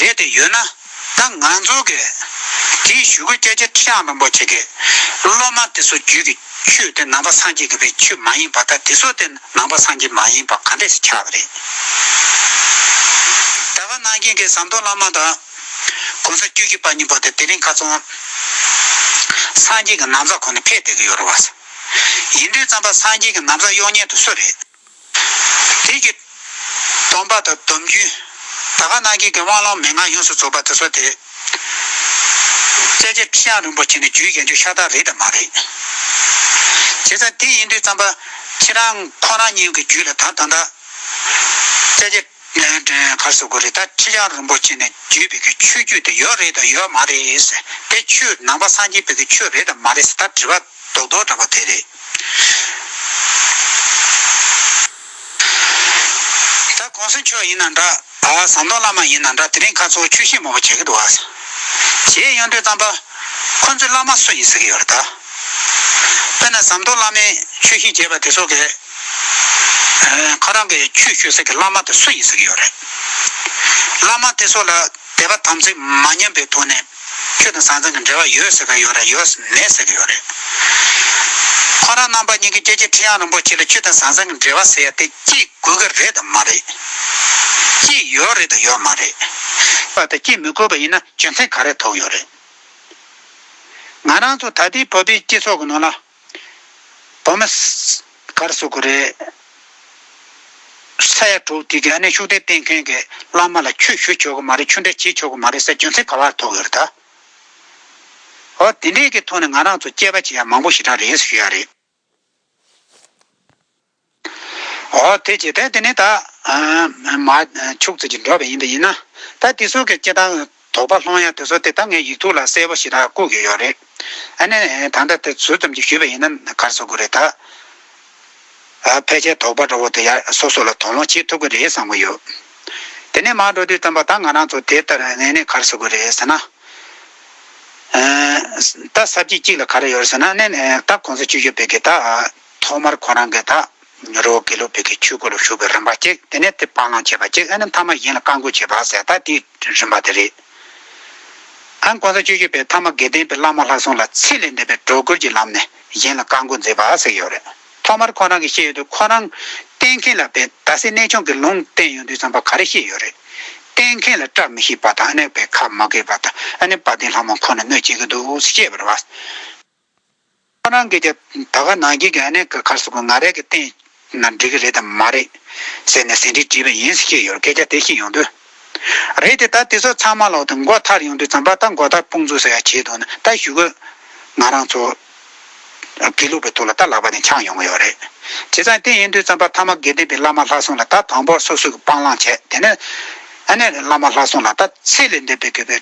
རེད་དེ་ཡོད་ན་ད་ང་ཚོ་གི་དེའི་ཞུ་གུ་སྐྱ་ཁྱི་ཁྲི་ཡང་དང་པོ་བྱེད་གི་སློབ་མ་དེ་ཚོ་རྒྱུད་ཀྱི་ཆུ་དེ་ནང་པ་སངས་རྒྱས་ཀྱི་བའི་ཆུ་མ་ཡིན་པ་ད་དེ་ཚོ་དེ་ནང་པ་སངས་རྒྱས་མ་ཡིན་པ་ག་འདྲས་སུ་ཆགས་པ་རེད་ད་ག་ནང་རྒྱན་གྱི་ཟམ་གདོང་བླ་མ་དང་གོང་ས་བཅུ་བཞི་པ་གཉིས་པོ་དེ་དེ་རིང་ག་ཚོང་སངས་རྒྱས་ཀྱི་ནང་ཟ་ཁོ་ནས་ཕེད་བསྡད་གི་ཡོད་རེད་བ་ཡིན་དུས་ཙམ་པ་སངས་རྒྱས་ཀྱི་ནང་ཟ་གཡོག་ཉན་དུ་སུ་རེད། དེས་ཀྱི། སྡོམ་པ་དང་སྡོམ་རྒྱུན། ད་ག་སྣང་བརྒྱད་ཀྱི་དབང་ལོང་མེད་ངང་ཡོངས་སུ་རྫོགས་པ་དེ་སོགས་ཏེ། བཙལ་བྱ་ཁྲི་བྱང་རིན་པོ་ཆེ་ནི་རྒྱུའི་རྒྱན་ཆོས་ཤ་སྟག་རེད་དམ་མ་རེད། བྱས་ཙང་དེ་ཡིན་དུས་བརྩམས་པ། ཁྱེད་རང་ཁོང་རང་གཉིས་ཀྱི་རྒྱུད་ལ་དར་དང་འདྲ། བཙལ་བྱ། གནས་བརྟན་མཁར་སོགས་གུ་རི་ཐ་ཁྲི་ཡང་རིན་པོ་ཆེ་ནས་བརྒྱུད་བོད་ཀྱི་ཆོས་བརྒྱུད་དེ་ཡོད་རེད་དམ་ཡོད་མ་རེད་དེ་ཆོས་ནང་པ་སངས་རྒྱས་བོད་ཀྱི་ཆོས་རེད་དམ་མ་རེད་ད་དྲི་བ་རྡོག་རྡོག་འདྲ་པོ་དེ་རེད། ད་གོང་ས་མཆོག་ཡིན་ན་འདྲ་ཟམ་གདོང་བླ་མ་ཡིན་ན་འདྲ་དེ་རིང་ཁ་ཚོགས་ཆོས་ཤེས་མང་པོ་བྱེད་ཀྱི་འདུག་གཞས་གཡང་སྒྲོན་གཙང་པ་ཁོ་ཚོས་བླ་མ་སུ་ཡིན་ཟེར་གྱི་ཡོད་རེད་ད། དཔེར་ན་ཟམ་གདོང་བླ་མས་ཆོས་ཤེས་བྱས་པ་དེ་ཚོ་གས། ཁོ་རང་གི་ཆོས་ཞུ་སའི་བླ་མ་དེ་སུ་ཡིན་ཟེར་གྱི་ཡོད་རེད། བླ་མ་དེ་ཚོ་ལ་དད་པ་དམ་ཚིག་མ་ཉམས་པའི་ཐོག་ནས་ཁྱོད་དང་ཟང་ཟིང་གི་འབྲེལ་བ་ཡོད་ཟེར་གྱི་ཡོད་རེད་ཡོད་མེད་ཟེར་གྱི་ཡོད་རེད། ཁོ་རང་རྣམ་པ་གཉིས་ཀྱིས་སྐྱེ་རྒྱུ་ཁྲི་ཡང་རིན་པོ་ཆེ་ལ་ཁྱོད་དང་ཟང་ཟིང་གི་འབྲེལ་བ་ཟེར་ཡ་དེ་སྐྱེས་དགོས་ཀྱི་རེད་དམ་མ་རེད། སྐྱེས་ཡོད་རེད་དམ་ཡོད་མ་རེད། བ་དེ་སྐྱེས་མི་དགོས་པ་ཡིན་ན་རྒྱུ་མཚན་ག་རེ་ཐོགས་ཡོད་རེད། ང་རང་ཚོ་ད་ལྟའི་བོད་པའི་སྤྱི་ཚོགས་ཀྱི་ནང་ལ་བོད་མི་གར་སོ་དགོས་རེད། ས་ཡ་དྲུག་དེ་གའི་གནས་ཤུགས་ལྡན་སྤེལ་མཁན་གྱི་བླ་མ་ལ་ཆོས་ཞུ་ཆོག་གི་མ་རེད་ཆོས་འབྲེལ་བྱེད་ཆོག་གི་མ་རེད་ཟེར་རྒྱུ་མཚན་ག་བར་ཐོག་ཡོད་རེད་ད། ཨོ་དེ་འདྲའི་གི་ཐོག་ནས་ང་རང་ཚོ་དཔྱད་པ་བྱེད་ཡག་མང་པོ་ཞིག་ད་རེད་ཟེར་ཞུ་ཡག་རེད། འོ་དེ་ཅི་སྟེ་དེ་ནི་ད། མ། ཕྱུགས་ཚོད་ཀྱི་འགྲོ་བ་ཡིན་པ་ཡིན་ན། ད་དེ་ཚོ་གི་སྐྱེ་སྟངས་དོགས་པ་སློང་ཡ་དེ་ཚོ་དེ་ད་ངའི་ཡིག་ཐུག་ལ་གསལ་པོ་ཞིག་ད་བཀོད་གི་ཡོད་རེད། ཨ་ནི་ད་ལྟ་དེ་ཟུར་ཙམ་གྱིས་ཞུས་པ་ཡིན་ན་གར་བཟོ་དགོས་རེད་ད། ཕལ་ཆེར་དོགས་པ་འདྲ་བོ་དེ་ཡ་སོ་སོ་ལ་དོགས་སློང་བྱེད་ཐུབ་གི་རེད་བསམ་གི་ཡོད། དེ་ནས་མར་འགྲོ་དུས་ཙམ་པ་ད་ང་རང་ཚོ་དེ་ལྟར་ངས་ནི་གར་བཟོ་དགོས་རེད་ཟེར་ན། ད་གསར་སྐྱེས་གཅིག་ལ་ག་རེ་ཡོད་རེད་ཟེར་ན་ནི་ད་ཁོང་ཚོ་ཆུ་ཤོད་སྤེལ་གི་ད། ཐོག་མར་ཁོ་རང་གིས་ད་ཉོ་རོ་དགེ་ལུགས་བོད་ཀྱི་ཆོས་སྐོར་ལ་ཞུགས་པའི་རིམ་པ་གཅིག་དེ་ནས་དེ་སྤང་བླང་བྱེད་པ་གཅིག་ཨ་ནི་མཐའ་མ་གཞན་ལ་བཀའ་འགུགས་བྱེད་པ་ཟད་ད་དེའི་རིམ་པ་དེ་རེད། ཨན་གོང་ས་སྤྱོད་བཞི་པའི་མཐའ་མ་དགེ་ལྡན་པའི་བླ་མ་ལྷ་སྲུང་ལ་ཚེ་ལས་འདས་པའི་སྒྲོ་སྐུར་གྱི་ལམ་ནས་གཞན་ལ་བཀའ་འགུགས་མཛད་པ་ཟེར་གྱི་ཡོད་རེད། ཐོག་མར་ཁོ་རང་གིས་ཤེས་ཡོད་དུས་ཁོ་རང་གཏན་མཁན་ལ་བན་ད་སེ་གནས་ཆུང་གི་ལུང་བསྟན་ཡོང་དུས་བསམ་པ་ག་རེ་ཤེས་ཡོད་རེད། གཏན་མཁན་ལ་སྐྲག་མི་ཤེས་པ་དང་ཨ་ནེ་བས་ཁ་མ་གས་པ་དང་ཨ་ནེ་བ་དེ་ལྷ་མོ་ཁོ་ནས་གནོད་བྱེད་ཀྱི་འདུག་ཟེར་བཤད་པར་བ། ཁོ་རང་གིས་ཀྱང་ད་ག་ནང་ཁྱེད་ཀྱི་ཨ་ནེ་ཁར་སོང་གི་ང་རས་ཀྱི་སྟེང་ན་འགྲིག་གི་རེད་དམ་མ་རེད། ཟེར་ནས་ཟིན་བྲིས་བྲིས་པ་ཡིན་ཟེར་གྱི་ཡོད་སྐད་ཆ་དེ་བཤད་ཡོང་དུས། རེད་དེ་ད་དེ་ཚོ་ཚང་མ་ལོག་དུས་མགོ་ཐར་ཡོང་དུས་རྩམ་པ་ད་མགོ་ཐར་སྤུངས་ཚུལ་ཟེར་ཡ་བྱས་འདུག་ན་ད་ཞུ་གི། ང་རང་ཚོ་དགེ་ལུགས་པའི་ཐུགས་ལ་ད་ལག་པ་དེ་འཆང་ཡོང་གི་ཡོད་རེད། བྱས་ཙང་དེ་ཡིན་དུས་རྩམ་པ་ཐ་མ་དགེ་ལྡན་པའི་བླ་མ་ལྷ་སྲུང་ལ་ད་དང་པོར་སོ་སོས་ཀྱི་སྤང་བླང་བྱས་དེ་ནས། ཨ་ནེ་བླ་མ་ལྷ་སྲུང་ལ་ད་ཚེ་ལས་འདས་པའི་དགོས་པའི་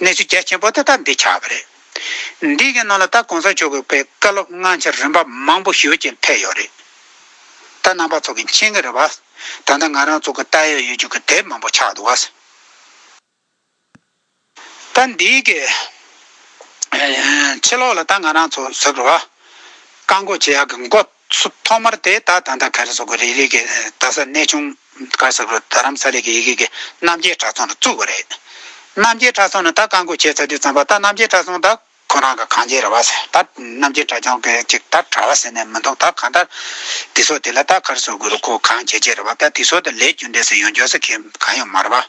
གནས་ཚུལ་གལ་ཆེན་པོ་དེ་དག་འདིས་ཆགས་པ་རེད། འདི་གའི་ནང་ལ་ད་གོང་ས་མཆོག་གི་པའི་བཀའ་སློབ་སྔ་འཆར་རིམ་པ་མང་པོ་ཞུས་རྐྱེན་ཕེབས་ཡོད་རེད། ད་རྣམ་པ་ཚོགས་ཀྱི་མཆན་གྱི་རེད་བ། ད་ལྟ་ང་རང་ཚོགས་ཀྱི་ལྟ་ཡོད་ཡོད་རྒྱུ་གྱི་དེབ་མང་པོ་ཆགས་འདུག་བ། ད་འདི་གའི་ཕྱི་ལོགས་ལ་ད་ང་རང་ཚོ་ཟུར་བ། བཀའ་འགོག་བྱེད་ཡག་གི་མགོ། སུ་ཐོག་མར་དེ་ད་དང་ད་ག་རེ་སོགས་ཀྱི་རིགས་ལས་ཀྱི་ད་ས་གནས་ཆུང་ག་ས་རུ་རྡ་རམ་ས་ལའི་ཀྱི་ཡི་གེ་ཀྱི་རྣམ་རྒྱལ་གྲྭ་ཚང་རུ་བཙུགས་པ་རེད། རྣམ་རྒྱལ་གྲྭ་ཚང་ནི་ད་བཀའ་འགོ་བྱས་ཚར་དུས་བརྩམས་པ་ད་རྣམ་རྒྱལ་གྲྭ་ཚང་ད་ཁོ་རང་གི་གང་བྱས་རེད་བ་ཟེར་ད་རྣམ་རྒྱལ་གྲྭ་ཆུང་གི་ཅིག་ད་གྲྭ་བ་ཟེར་ནས་མི་འདུག་ད་གང་ད་དེ་སོགས་དེ་ལ་ད་ག་རེ་སོགས་དགོས་རུ་ཁོ་གང་བྱས་བྱས་རེད་བ་ད་དེ་སོགས་ད་ལས་རྒྱུ་འབྲས་སུ་ཡོང་འཇོག་ས་གི་གང་ཡང་མ་རེད་བ།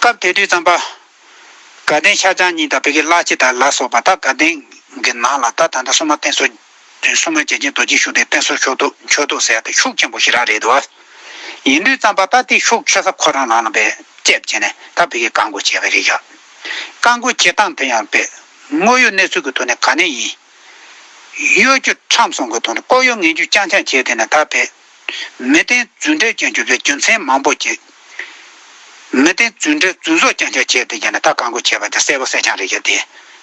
སྐབས་དེ་དུས་རྩམ་པ། དགའ་ལྡན་ཤར་བྱང་གཉིས་དང་བོད་ཀྱི་བླ་སྤྱི་དག་ལ་སོགས་པ་དག་དགའ་ལྡན་གྱི་ནང་ལ་ད་ད་ད་སྲུང་མ་བསྟེན་གསོལ། སྲུང་མ་རྒྱལ་ཆེན་རྡོ་རྗེ་ཤུགས་ལྡན་བསྟེན་གསོལ་ཆོག་འདུག་མཆོད་འདུག་ཟེར་ཡ་དེ་ཤུགས་ཆེན་པོ་ཞིག་རག་རེད་འདུག་ཨ། ཡིན་དུས་རྩམ་པ་ད་དེ་ཤུགས་ཆེ་ས་ཁོ་རང་རང་ལ་བེད་སྤྱད་བྱས་ནས་ད་བོད་ཀྱི་བཀའ་བསྒོ་བྱས་པ་རེད་ཡ། བཀའ་བསྒོ་བྱེད་སྟངས་དེ་ཡང་བེད་དངོས་ཡོད་གནས་ཚུལ་གྱི་ཐོག་ནས་ག་ནས་ཡིན། གཡོ་སྒྱུ་ཁྲམ་སྲུང་གི་ཐོག་ནས་ལྐོག་གཡོ་ངན་སྒྱུ་རྐྱང་རྐྱང་བྱས་དེ་ནས་ད་བེད། མི་བདེན་རྫུན་འབྲེལ་ཅན་གྱུར་པའི་རྒྱུ་མཚན་མང་པོ་སྐྱེས། མི་བདེན་རྫུན་འབྲེལ་རྫུན་བཟོ་རྐྱང་རྐྱང་བྱས་ཏེ་ཀྱང་ནས་ད་གང་དགོས་བྱས་པ་དེ་གསལ་པོ་གསལ་རྐྱང་རེད་ཀྱང་དེ།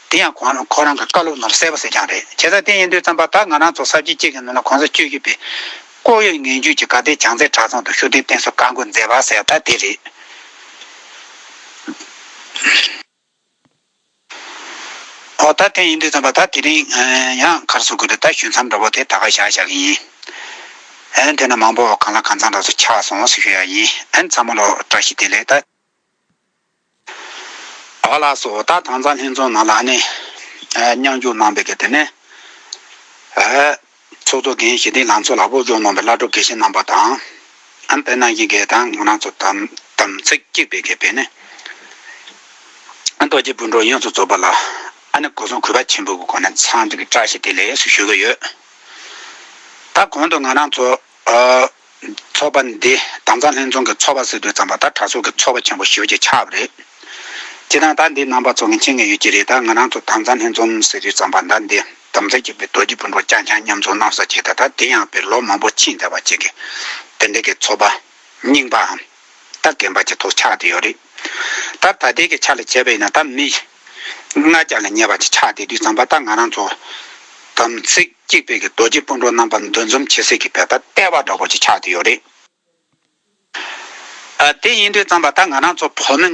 དེ་ཡང་ཁོང་ཁོ་རང་གི་བཀའ་སློབ་ནང་ལ་གསལ་པོ་གསལ་རྐྱང་རེད་བྱས་ཙང་དེ་ཡིན་དུས་ཙམ་པར་ད་ང་རང་ཚོ་གསར་བརྗེ་གཅིག་གི་ནང་ལ་གོང་ས་བཅུ་བཞི་པའི། ལྐོག་གཡོ་ངན་ཇུས་ཀྱི་ག་དེའི་བྱང་ཚད་དྲ་ཚང་དུ་ཤུགས་ལྡན་བསྟན་སྲོལ་བཀའ་འགོ་མཛད་པ་གསལ་ད་དེ་རེད། ཨོ་ད་དེ་ཡིན་དུས་ཙམ་པ་ད་དེ་རིང་ཡང་ཁར་སོང་དགོས་རེད་ད་ཞུ་མཚམས་འདྲ་བོ་དེ་ད་ག་བཞག་བཞག་གི་ཡིན་ཨན་དེ་ན་མང་པོ་གང་ལ་གང་ཚང་འདྲ་ཚོ་ཆགས་སོང་ཟེར་ཞུ་ཡག་ཡིན་ཨན་ཚང་མ་ལོ་བཀྲ་ཤིས་བདེ་ལེགས་ད། ཨ་ཕ་ལགས་སུ་ཨོ་ད་དྭངས་གཙང་ལྷན་ཚོགས་ནང་ལ་ཨ་ནེ། མཉམ་རྒྱུགས་གནང་པའི་གི་དེ་ནས། ཚོགས་གཙོ་འགན་བཞེས་དེ་ལང་ཚོ་ལ་སྤོ་སྒྱུར་གནང་བའི་བླ་སྒྲུབ་དགེ་བཤེས་རྣམ་པ་དང། ཨམ་བན་ནང་གི་དགེ་དང་ངོ་ནང་ཚོ་དམ་ཚིག་གཅིག་པའི་དགེ་བེད་ནི། རྡོ་རྗེ་སྤུན་གྲོགས་ཡོངས་སུ་རྫོགས་པ་ལ། ཨ་ནི་གོ་སོང་གུས་པ་ཆེན་པོའི་སྒོ་ནས་ཚང་གཅིག་གི་བཀྲ་ཤིས་བདེ་ལེགས་སུ་ཞུ་གི་ཡོད། ད་གོང་དུ་ང་རང་ཚོ། ཚོགས་པ་འདི་དྭངས་གཙང་ལྷན་ཚོགས་ཀྱི་ཚོགས་པ་སྲིད་གྲོས་བརྩམས་པ་དང་གྲྭ་ཚོགས་ཀྱི་ཚོགས་པ་ཆེན་པོ་ཞུ་རྒྱུ་ཆགས་པ་རེད། སྤྱིར་ན་ཟླ་འདིའི་ནང་བར་ཚོགས་མཁན་ཆེ་ངེས་ཡོད་ཀྱི་རེད་ད་ང་རང་ཚོ་དྭངས་གཙང་ལྷན་ཚོགས་སྲིད་གྲོས་བརྩམས་པ་ཟླ་འདིའི་དམ་ཚིག་བརྒྱུད་པའི་རྡོ་རྗེ་སྤུན་གྲོགས་རྐྱང་རྐྱང་མཉམ་ཚོགས་གནང་ས་ཆེ་ད་དེ་ཡང་བས་ལོ་མང་པོ་ཕྱིན་བསྡད་པ་གཅིག་གི་དེ་འདྲ་གི་ཚོགས་པ་རྙིང་པའམ་ད་རྒན་པ་གྱི་ཐོག་ཆགས་བསྡད་ཡོད་རེད། ད་ད་ལྟའི་གི་ཆ་ལ་བྱས་པ་ཡིན་ན་ད་མི་ལྔ་བརྒྱ་ལ་ཉེ་བ་གཅིག་ཆགས་བསྡད་དུས་བརྩམས་པ་ད་ང་རང་ཚོ་དམ་ཚིག་གཅིག་དཔལ་གྱི་རྡོ་རྗེ་སྤུན་གྲོགས་རྣམ་པ་འདུ་འཛོམས་བྱེད་སྲིད་ཀྱི་བལ་པ་ལྟེ་བ་འདྲ་བོ་ཅིག་ཆགས་ཏེ་ཡོད་རེད། དེ་ཡིན་དུས་ཙམ་པ་ད་ང་རང་ཚོ་བོད་མི་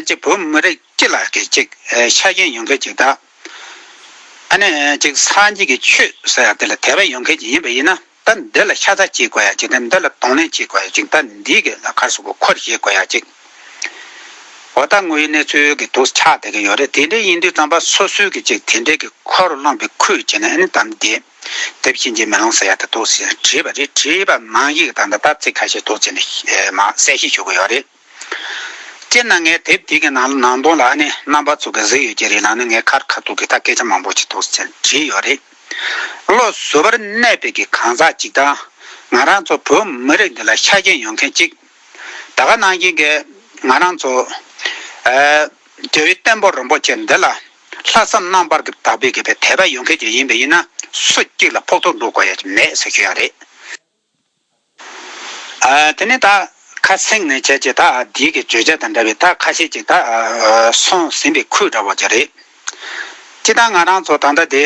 གཅིག་བོད་མི་རིགས་གཅིག་ལ་གི་གཅིག་ཆ་རྐྱེན་ཡོང་མཁན་གཅིག་ད་ནི་གཅིག་སངས་རྒྱས་ཀྱི་ཆོས་ཟེར་ཡ་དེ་ལ་དད་པ་ཡོང་མཁན་གཅིག་ཡིན་པ་ཡིན་ན། ད་འདི་ལ་ཤ་ཚ་བྱེད་དགོས་ཡ་ཅིག་ད་འདི་ལ་གདོང་ལེན་བྱེད་དགོས་ཡ་ཅིག་ད་འདི་གི་ལ་ཁར་སོག་པོ་འཁོར་བྱེད་དགོས་ཡ་ཅིག་འོ་ད་ངོས་གནས་ཚུལ་གི་དུག་ཆགས་བསྡད་ཀྱི་ཡོད་རེད་དེ་འདྲའི་ཡིན་དུས་རྩམ་པ་སོ་སོའི་གི་ཅིག་དེ་འདྲའི་གི་འཁོར་སློང་པའི་ཁུལ་བྱེད་ན་ཨེ་ནི་ད་འདི་དེབ་ཤིན་ཅི་མི་ལོང་ཟེར་ཡ་ད་དུག་ཟེར་བྲིས་པ་རེད་བྲིས་པ་མང་ཡིག་དང་ད་ད་ཚིག་ཁ་ཤས་དུག་བྱེད་ནི་མ་གསལ་བཤད་ཞུ་གི་ཡོད་རེད། སྤྱིར་ན་ངའི་དེབ་དེ་གའི་ནང་ལ་ནང་དོན་ལ་ནི་རྣམ་པ་ཚུགས་ཀྱི་གཟིགས་ཡོད་ཀྱི་རེད་ནང་ནས་ངས་ཁར་ཁ་ཐུག་གི་ད་སྐད་ཆ་མང་པོ་ཅིག་ཐུགས་སུ་བྲིས་ཡོད་རེད། བློ་བཟོ་བར་གནས་པའི་གི་གང་ཟག་ཅིག་དང། ང་རང་ཚོ་བོད་མི་རིགས་འདི་ལ་ཤ་རྒྱན་ཡོད་མཁན་ཅིག། ད་ག་ནང་བཞིན་གྱི་ང་རང་ཚོ། རྒྱལ་བའི་བསྟན་པོ་རིན་པོ་ཆེ་འདི་ལ། ལྷག་བསམ་རྣམ་པར་གྱི་དག་པའི་གི་པའི་དད་པ་ཡོད་མཁན་ཅིག་ཡིན་པས་ཡིན་ན་སུ་གཅིག་ལ་ཕོག་ཐུག་འགྲོ་དགོས་ཡ་ཅིག་མེད་ཟེར་ཞུ་ཡ་རེད། དེ་ནས་ད་ཁ་སེང་ནས་བྱས་ཀྱི་ད་བདེ་གི་བརྗོད་བྱ་དང་འདྲ་བའི་ད་ཁ་ཤས་ཀྱི་ད་སོང་ཟིན་པའི་ཁུལ་འདྲ་བ་ཅིག་རེད། ཅི་ད་ང་རང་ཚོ་ད་ལྟ་དེ།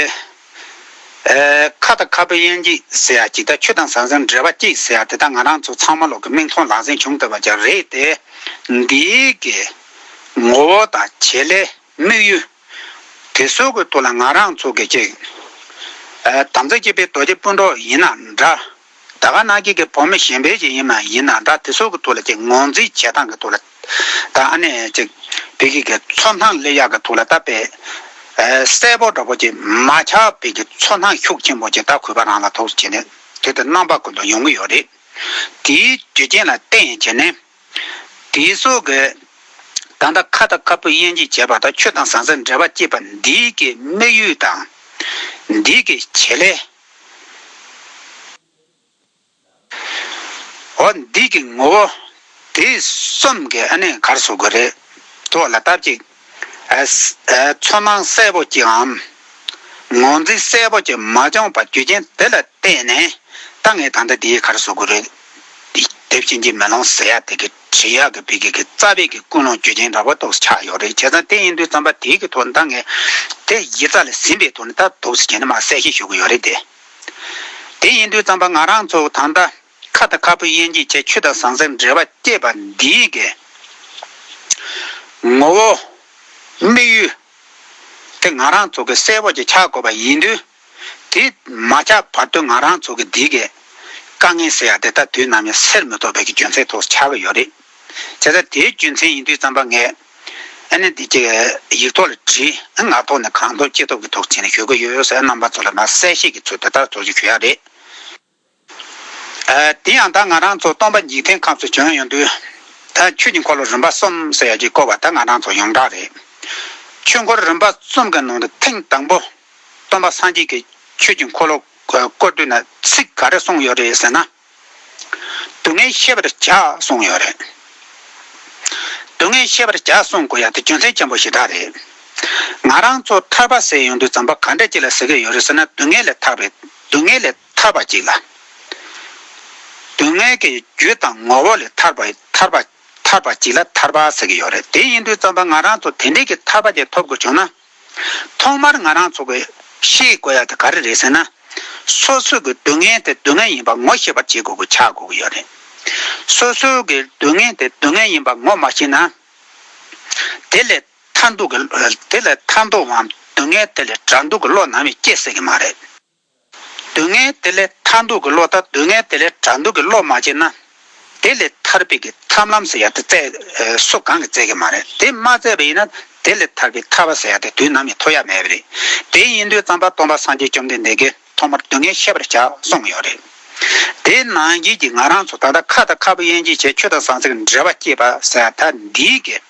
ཁ་ད་ཁ་བུ་ཡན་ཅིག་ཟེར་ཡ་ཅིག་ད་ཆུ་དང་ཟང་ཟིང་འདྲེས་པ་ཅིག་ཟེར་ཡ་དེ་ད་ང་རང་ཚོ་ཚང་མ་ལོག་གི་མིག་མཐོང་ལག་ཟིང་བྱུང་ཐུབ་པ་ཅིག་རེད་དེ། འདིའི་གི་ངོ་བོ་དང་བྱེད་ལས། དམིགས་ཡུལ། དེ་གསོད་དགོས་ཐུག་ལ་ང་རང་ཚོ་དགེ་བྱེད། དམ་རྫས་སྐྱེད་པའི་རྡོ་རྗེ་སྤུན་གྲོགས་ཡིན་ན་འདྲ། ད་ག་ནག་ཁྱེད་ཀྱི་བུ་མོ་གཞན་ཕལ་ཆེར་ཡིན་མ་ཡིན་ན་འདྲ་དེ་གསོད་གི་ཐུག་ལ་ཅིག་ངོ་འཛིན་བྱེད་སྟངས་གི་ཐུག་ལ། ད་ཨ་ནས་ཅིག་བེད་ཁྱེད་ཀྱི་ཚོ་སྣང་སླེ་ཡག་གི་ཐུག་ལ་ད་བེད། གསལ་པོ་འདྲ་པོ་ཅིག་མ་ཆག་བེད་ཀྱི་ཚོ་སྣང་ཤུགས་ཆེན་པོ་ཅིག་ད་གུས་པ་རང་ལ་ཐོགས་སུ་བྱེད་ནས་དེ་ལྟར་རྣམ་པ་ཀུན་ཏུ་ཡོང་གི་ཡོད་རེད། དེའི་རྒྱུ་རྐྱེན་ལ་བརྟེན་བྱས་ནས། དེའི་སྲོག་གི། ད་ལྟ་ཁ་དང་ཁ་སྤུ་དབྱེ་འབྱེད་བྱེད་པ་དང་ཆོས་དང་ཟང་ཟིང་འབྲེལ་བ་བསྐྱེད་པ་འདི་ཀྱི་དམིགས་ཡུལ་དང། འདི་ཀྱི་བྱེད་ལས། འོ་འདི་ཀྱི་ངོ་བོ། དེ་གསུམ་གྱི་ཨ་ནི་གར་བཟོ་དགོས་རེད། དོགས་ལ་བཏབ་ཅིག། ཚོར་སྣང་གསལ་པོ་ཅིའམ་ངོས་འཛིན་གསལ་པོ་ཅི་མ་བྱུང་བར་རྒྱུ་རྐྱེན་དེ་ལ་བརྟེན་ནས་ད་ངས་ད་ལྟ་འདིའི་ཁར་བཟོ་དགོས་རེད། དེབ་ཆེན་གྱི་མེ་ལོང་ཟེར་ཡག་དེ་གི་བྲིས་ཡག་གི་བི་གི་གི་རྩ་བའི་གི་ཀུན་སློང་རྒྱུ་རྐྱེན་འདྲ་པོ་རྟོགས་སུ་ཆགས་ཡོད་རེད་བྱས་ཙང་དེ་ཡིན་དུས་རྩོམ་པ་དེའི་གི་ཐོག་ནས་ད་ངས་དེ་ཡི་རྩ་ལ་ཟིན་པའི་ཐོག་ནས་ད་དུག་སེལ་གྱིན་འདུག་མ་གསལ་བཤད་ཞུ་གི་ཡོད་རེད་དེ། དེ་ཡིན་དུས་རྩོམ་པ་ང་རང་ཚོ་ད་ལྟ། ཁ་དང་ཁ་སྤུ་གཡན་འགྱེད་བྱས་ཆུ་དང་ཟངས་གསེར་འབྲེལ་བ་བསྐྱེད་པ་འདིའི་འགལ། ངོ་བོ། དམིགས་ཡུལ། དེ་ང་རང་ཚོ་གི་གསལ་བོ་ཅིག་ཆགས་དགོས་པ་ཡིན་དུས། དེ་མ་ཆགས་བར་དུ་ང་རང་ཚོ་གི་འདིའི་འགལ། དཀའ་ངལ་ཟེར་ཡག་དེ་དག་དུས་ནམ་ཡང་སེལ་མི་ཐོབ་པའི་གི་རྒྱུ་མཚན་ཐོག་ཆགས་ཀྱི་ཡོད་རེད། བྱས་ཙང་དེའི་རྒྱུ་མཚན་ཡིན་དུས་རྩམ་པ་ངས་ཨ་ནེ་འདི་གི་ཡིག་ཐོག་ལ་བྲིས་ཨ་ངག་ཐོག་ནས་གང་ཐོབ་ཅི་ཐོབ་གི་ཐོག་བྱས་ནས་ཞུ་གི་ཡོད་ཟེར་ཨ་རྣམ་པ་ཚོ་ལ་མ་གསལ་བཤད་ཀྱི་ཚུལ་དེ་ལྟར་ཚོར་ཅིག་ཞུ་ཡག་རེད། དེ་ཡང་ད་ང་རང་ཚོ་སྟོང་པ་འཇིག་རྟེན་ཁམས་སུ་བྱོན་ཡོང་དུས། ད་ཆོས་ཀྱི་འཁོར་ལོ་རིམ་པ་གསུམ་ཟེར་ཡག་གི་བསྐོར་བ་ད་ང་རང་ཚོ་ཡོངས་གྲགས་རེད། ཆོས་འཁོར་རིམ་པ་གསུམ་གྱི་ནང་དུ་ཐེངས་དང་པོ། སྟོང་པ་སངས་རྒྱས་ཀྱིས་ཆོས་ཀྱི་འཁོར་ལོ་བསྐོར་དུས་ན་ཚིག་ག་རེ་གསུངས་ཡོད་རེད་ཟེར་ན། སྡུག་བསྔལ་ཤེས་པར་བྱ་གསུངས་ཡོད་རེད། སྡུག་བསྔལ་ཤེས་པར་བྱ་གསུངས་དགོས་ཡག་དེ་རྒྱུ་མཚན་ཆེན་པོ་ཞེ་དྲག་རེད། ང་རང་ཚོ་ཐར་པ་ཟེར་ཡོང་དུས་ཛམྦྷ་ག་འདྲ་ཅིག་ལ་ཟེར་གྱི་ཡོད་རེད་ཟེར་ན་སྡུག་བསྔལ་ལས་ཐར་པའི། སྡུག་བསྔལ་ལས་ཐར་བ་གཅིག་ལ། སྡུག་བསྔལ་གྱི་རྒྱུ་དང་ངོ་བོ་ལས་ཐར་བ་གཅིག་ལ་ཐར་པ་ཟེར་གྱི་ཡོད་རེད་དེ་ཡིན་དུས་རྩོམ་པ་ང་རང་ཚོ་དེ་འདྲིའི་གི་ཐར་པ་དེ་ཐོབ་དགོས་བྱུང་ན། ཐོག་མར་ང་རང་ཚོ་གི་ཤེས་དགོས་ཡ་དེ་ག་རེ་རེད་ཟེར་ན། སོ་སོའི་གི་སྡུག་བསྔལ་དེ་སྡུག་བསྔལ་ཡིན་པ་ངོ་ཤེས་པར་བྱེད་དགོས་གི་ཆགས་དགོས་གི་ཡོད་རེད། སོ་སོའི་གི་སྡུག་བསྔལ་དེ་སྡུག་བསྔལ་ཡིན་པ་ངོ་མ་ཤེས་ན། དེ་ལས། མཐའ་འདུག་གི། དེ་ལས་མཐའ་འདུག་བའམ་སྡུག་བསྔལ་དེ་ལས་དགྲ་འདུག་གི་བློ་ནང་བས་སྐྱེ་སྲིད་ཀྱི་མ་རེད། སྡུག་བསྔལ་དེ་ལས་མཐའ་འདུག་གི་བློ་དང་སྡུག་བསྔལ་དེ་ལས་དགྲ་འདུག་གི་བློ་མ་སྐྱེས་ན། དེ་ལས་ཐར་པའི་གི་ཐབས་ལམ་ཟེར་ཡ་དེ་བཙལ་སོ་གང་གིས་བཙལ་གི་མ་རེད་དེ་མ་བཙལ་བ་ཡིན་ན་དེ་ལས་ཐར་པའི་ཐར་བ་ཟེར་ཡ་དེ་དུས་ནམ་ཡང་ཐོབ་ཡ་མེད་པ་རེད་དེ་ཡིན་དུས་ཙམ་པ་སྟོང་པ་སངས་རྒྱས་བཅོམ་ལྡན་འདས་ཀྱིས་ཐོག་མར་སྡུག་བསྔལ་ཤེས་པར་བྱ་གསུང་གི་ཡོད་རེད། དེ་ནང་བཞིན་གྱི་ང་རང་ཚོ་ད་ལྟ་ཁ་དང་ཁ་ཕོ་དབྱེ་འབྱེད་བྱས་ཁྱོད་དང་ཟང་ཟིང་གི་འབྲེལ་བ་སྐྱེས་པ་ཟེར་ཡ་ད་འདིའི་གི།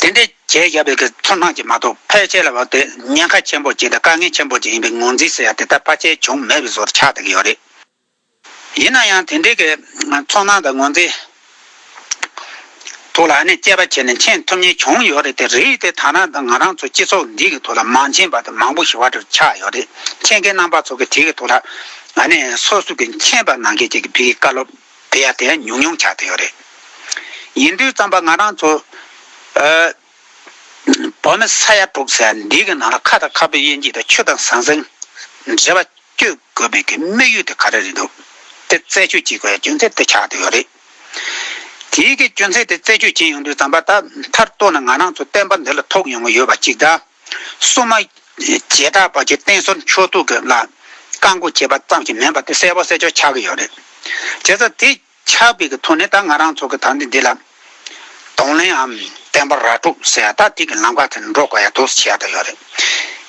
དེ་འདྲའི་གྱད་བཞག་པའི་ཚོར་སྣང་གིས་མ་གཏོགས་ཕལ་ཆེར་ལ་བབས་ཏེ་ཉེན་ཁ་ཆེན་པོ་ཅན་དང་དཀའ་ངལ་ཆེན་པོ་ཅན་ཡིན་པའི་ངོས་འཛིན་ཟེར་ཡ་དེ་ལྟར་ཕལ་ཆེར་བྱུང་མེད་པའི་བཟོར་ཆགས་བསྡད་ཀྱི་ཡོད་རེད། ཡིན་ན་ཡང་དེ་འདྲའི་གྱི་ཚོར་སྣང་དང་ངོས་འཛིན་ཐོག་ལ་ཨ་ནེ་དཔྱད་པ་བྱས་ནས་མཁྱེན་ཐུབ་ཉེན་ཆུང་ཡོད་རེད་དེ་རིགས་དེ་ད་ནངས་ང་རང་ཚོ་སྤྱི་ཚོགས་འདི་གི་ཐོག་ལ་མ་མཁྱེན་པ་དེ་མང་པོ་ཞིག་བར་དུ་ཆགས་ཡོད་རེད་མཁྱེན་མཁན་རྣམ་པ་ཚོ་གི་དེ་གི་ཐོག་ལ་ཨ་ནེ་སོ་སོ་གི་མཁྱེན་པ་ནང་གི་ཅིག་གི་བི་གི་བཀའ་སློབ། དེ་ཡང་དེ་ཡང་ཉུང་ཉུང་ཆགས་ཏེ་ཡོད་རེད། ཡིན་དུས་རྩམ་པ་ང་རང་ཚོ། བོད་མི་ས་ཡ་དྲུག་ཟེར་འདི་གི་ནང་ལ་ཁ་དང་ཁ་བོད་དབྱེ་འབྱེད་དང་ཆུ་དང་ཟང་ཟིང། འདྲེས་པ་གཅོད་དགོས་མེད་ཀྱི་དམིགས་ཡུལ་དེ་ག་རེ་རེད་འདུག་དེ་རྩད་ཆོད་བྱེད་དགོས་ཡ་རྒྱུ་མཚན་དེ་ཆགས་ཏེ་ཡོད་རེད། དེའི་གི་རྒྱུ་མཚན་དེ་རྩད་ཆོད་བྱེད་ཡོང་དུས་རྩམ་པ་ད་མཐར་གཏུགས་ན་ང་རང་ཚོ་བསྟན་པ་འདི་ལ་ཐོགས་ཡོང་གི་ཡོད་པ་གཅིག་དང། སྲུང་མ། རྗེས་དྲག་པ་བཅས་བསྟེན་གསོལ་མཆོད་བསྟོད་ཀྱི་ལ། བཀའ་འགུགས་བྱེད་པ་ཙམ་ཞིག་མིན་པ་དེ་གསལ་བོ་གསལ་ཆོག་ཆགས་ཀྱི་ཡོད་རེད། བྱས་ཙང་དེ་ཆགས་པའི་གི་ཐོག་ནས་ད་ང་རང་ཚོ་གི་དག་འདི་འདི་ལ། གདོང་ལེན་འམ་བསྟན་པ་ར་སྤྲོད་ཟེར་ཡ་ད་དེ་གི་ལམ་ཁ་དེར་འགྲོ་དགོས་ཡ་དུས་སུ་བྱས་ཡ་ད་ཡོད་རེད།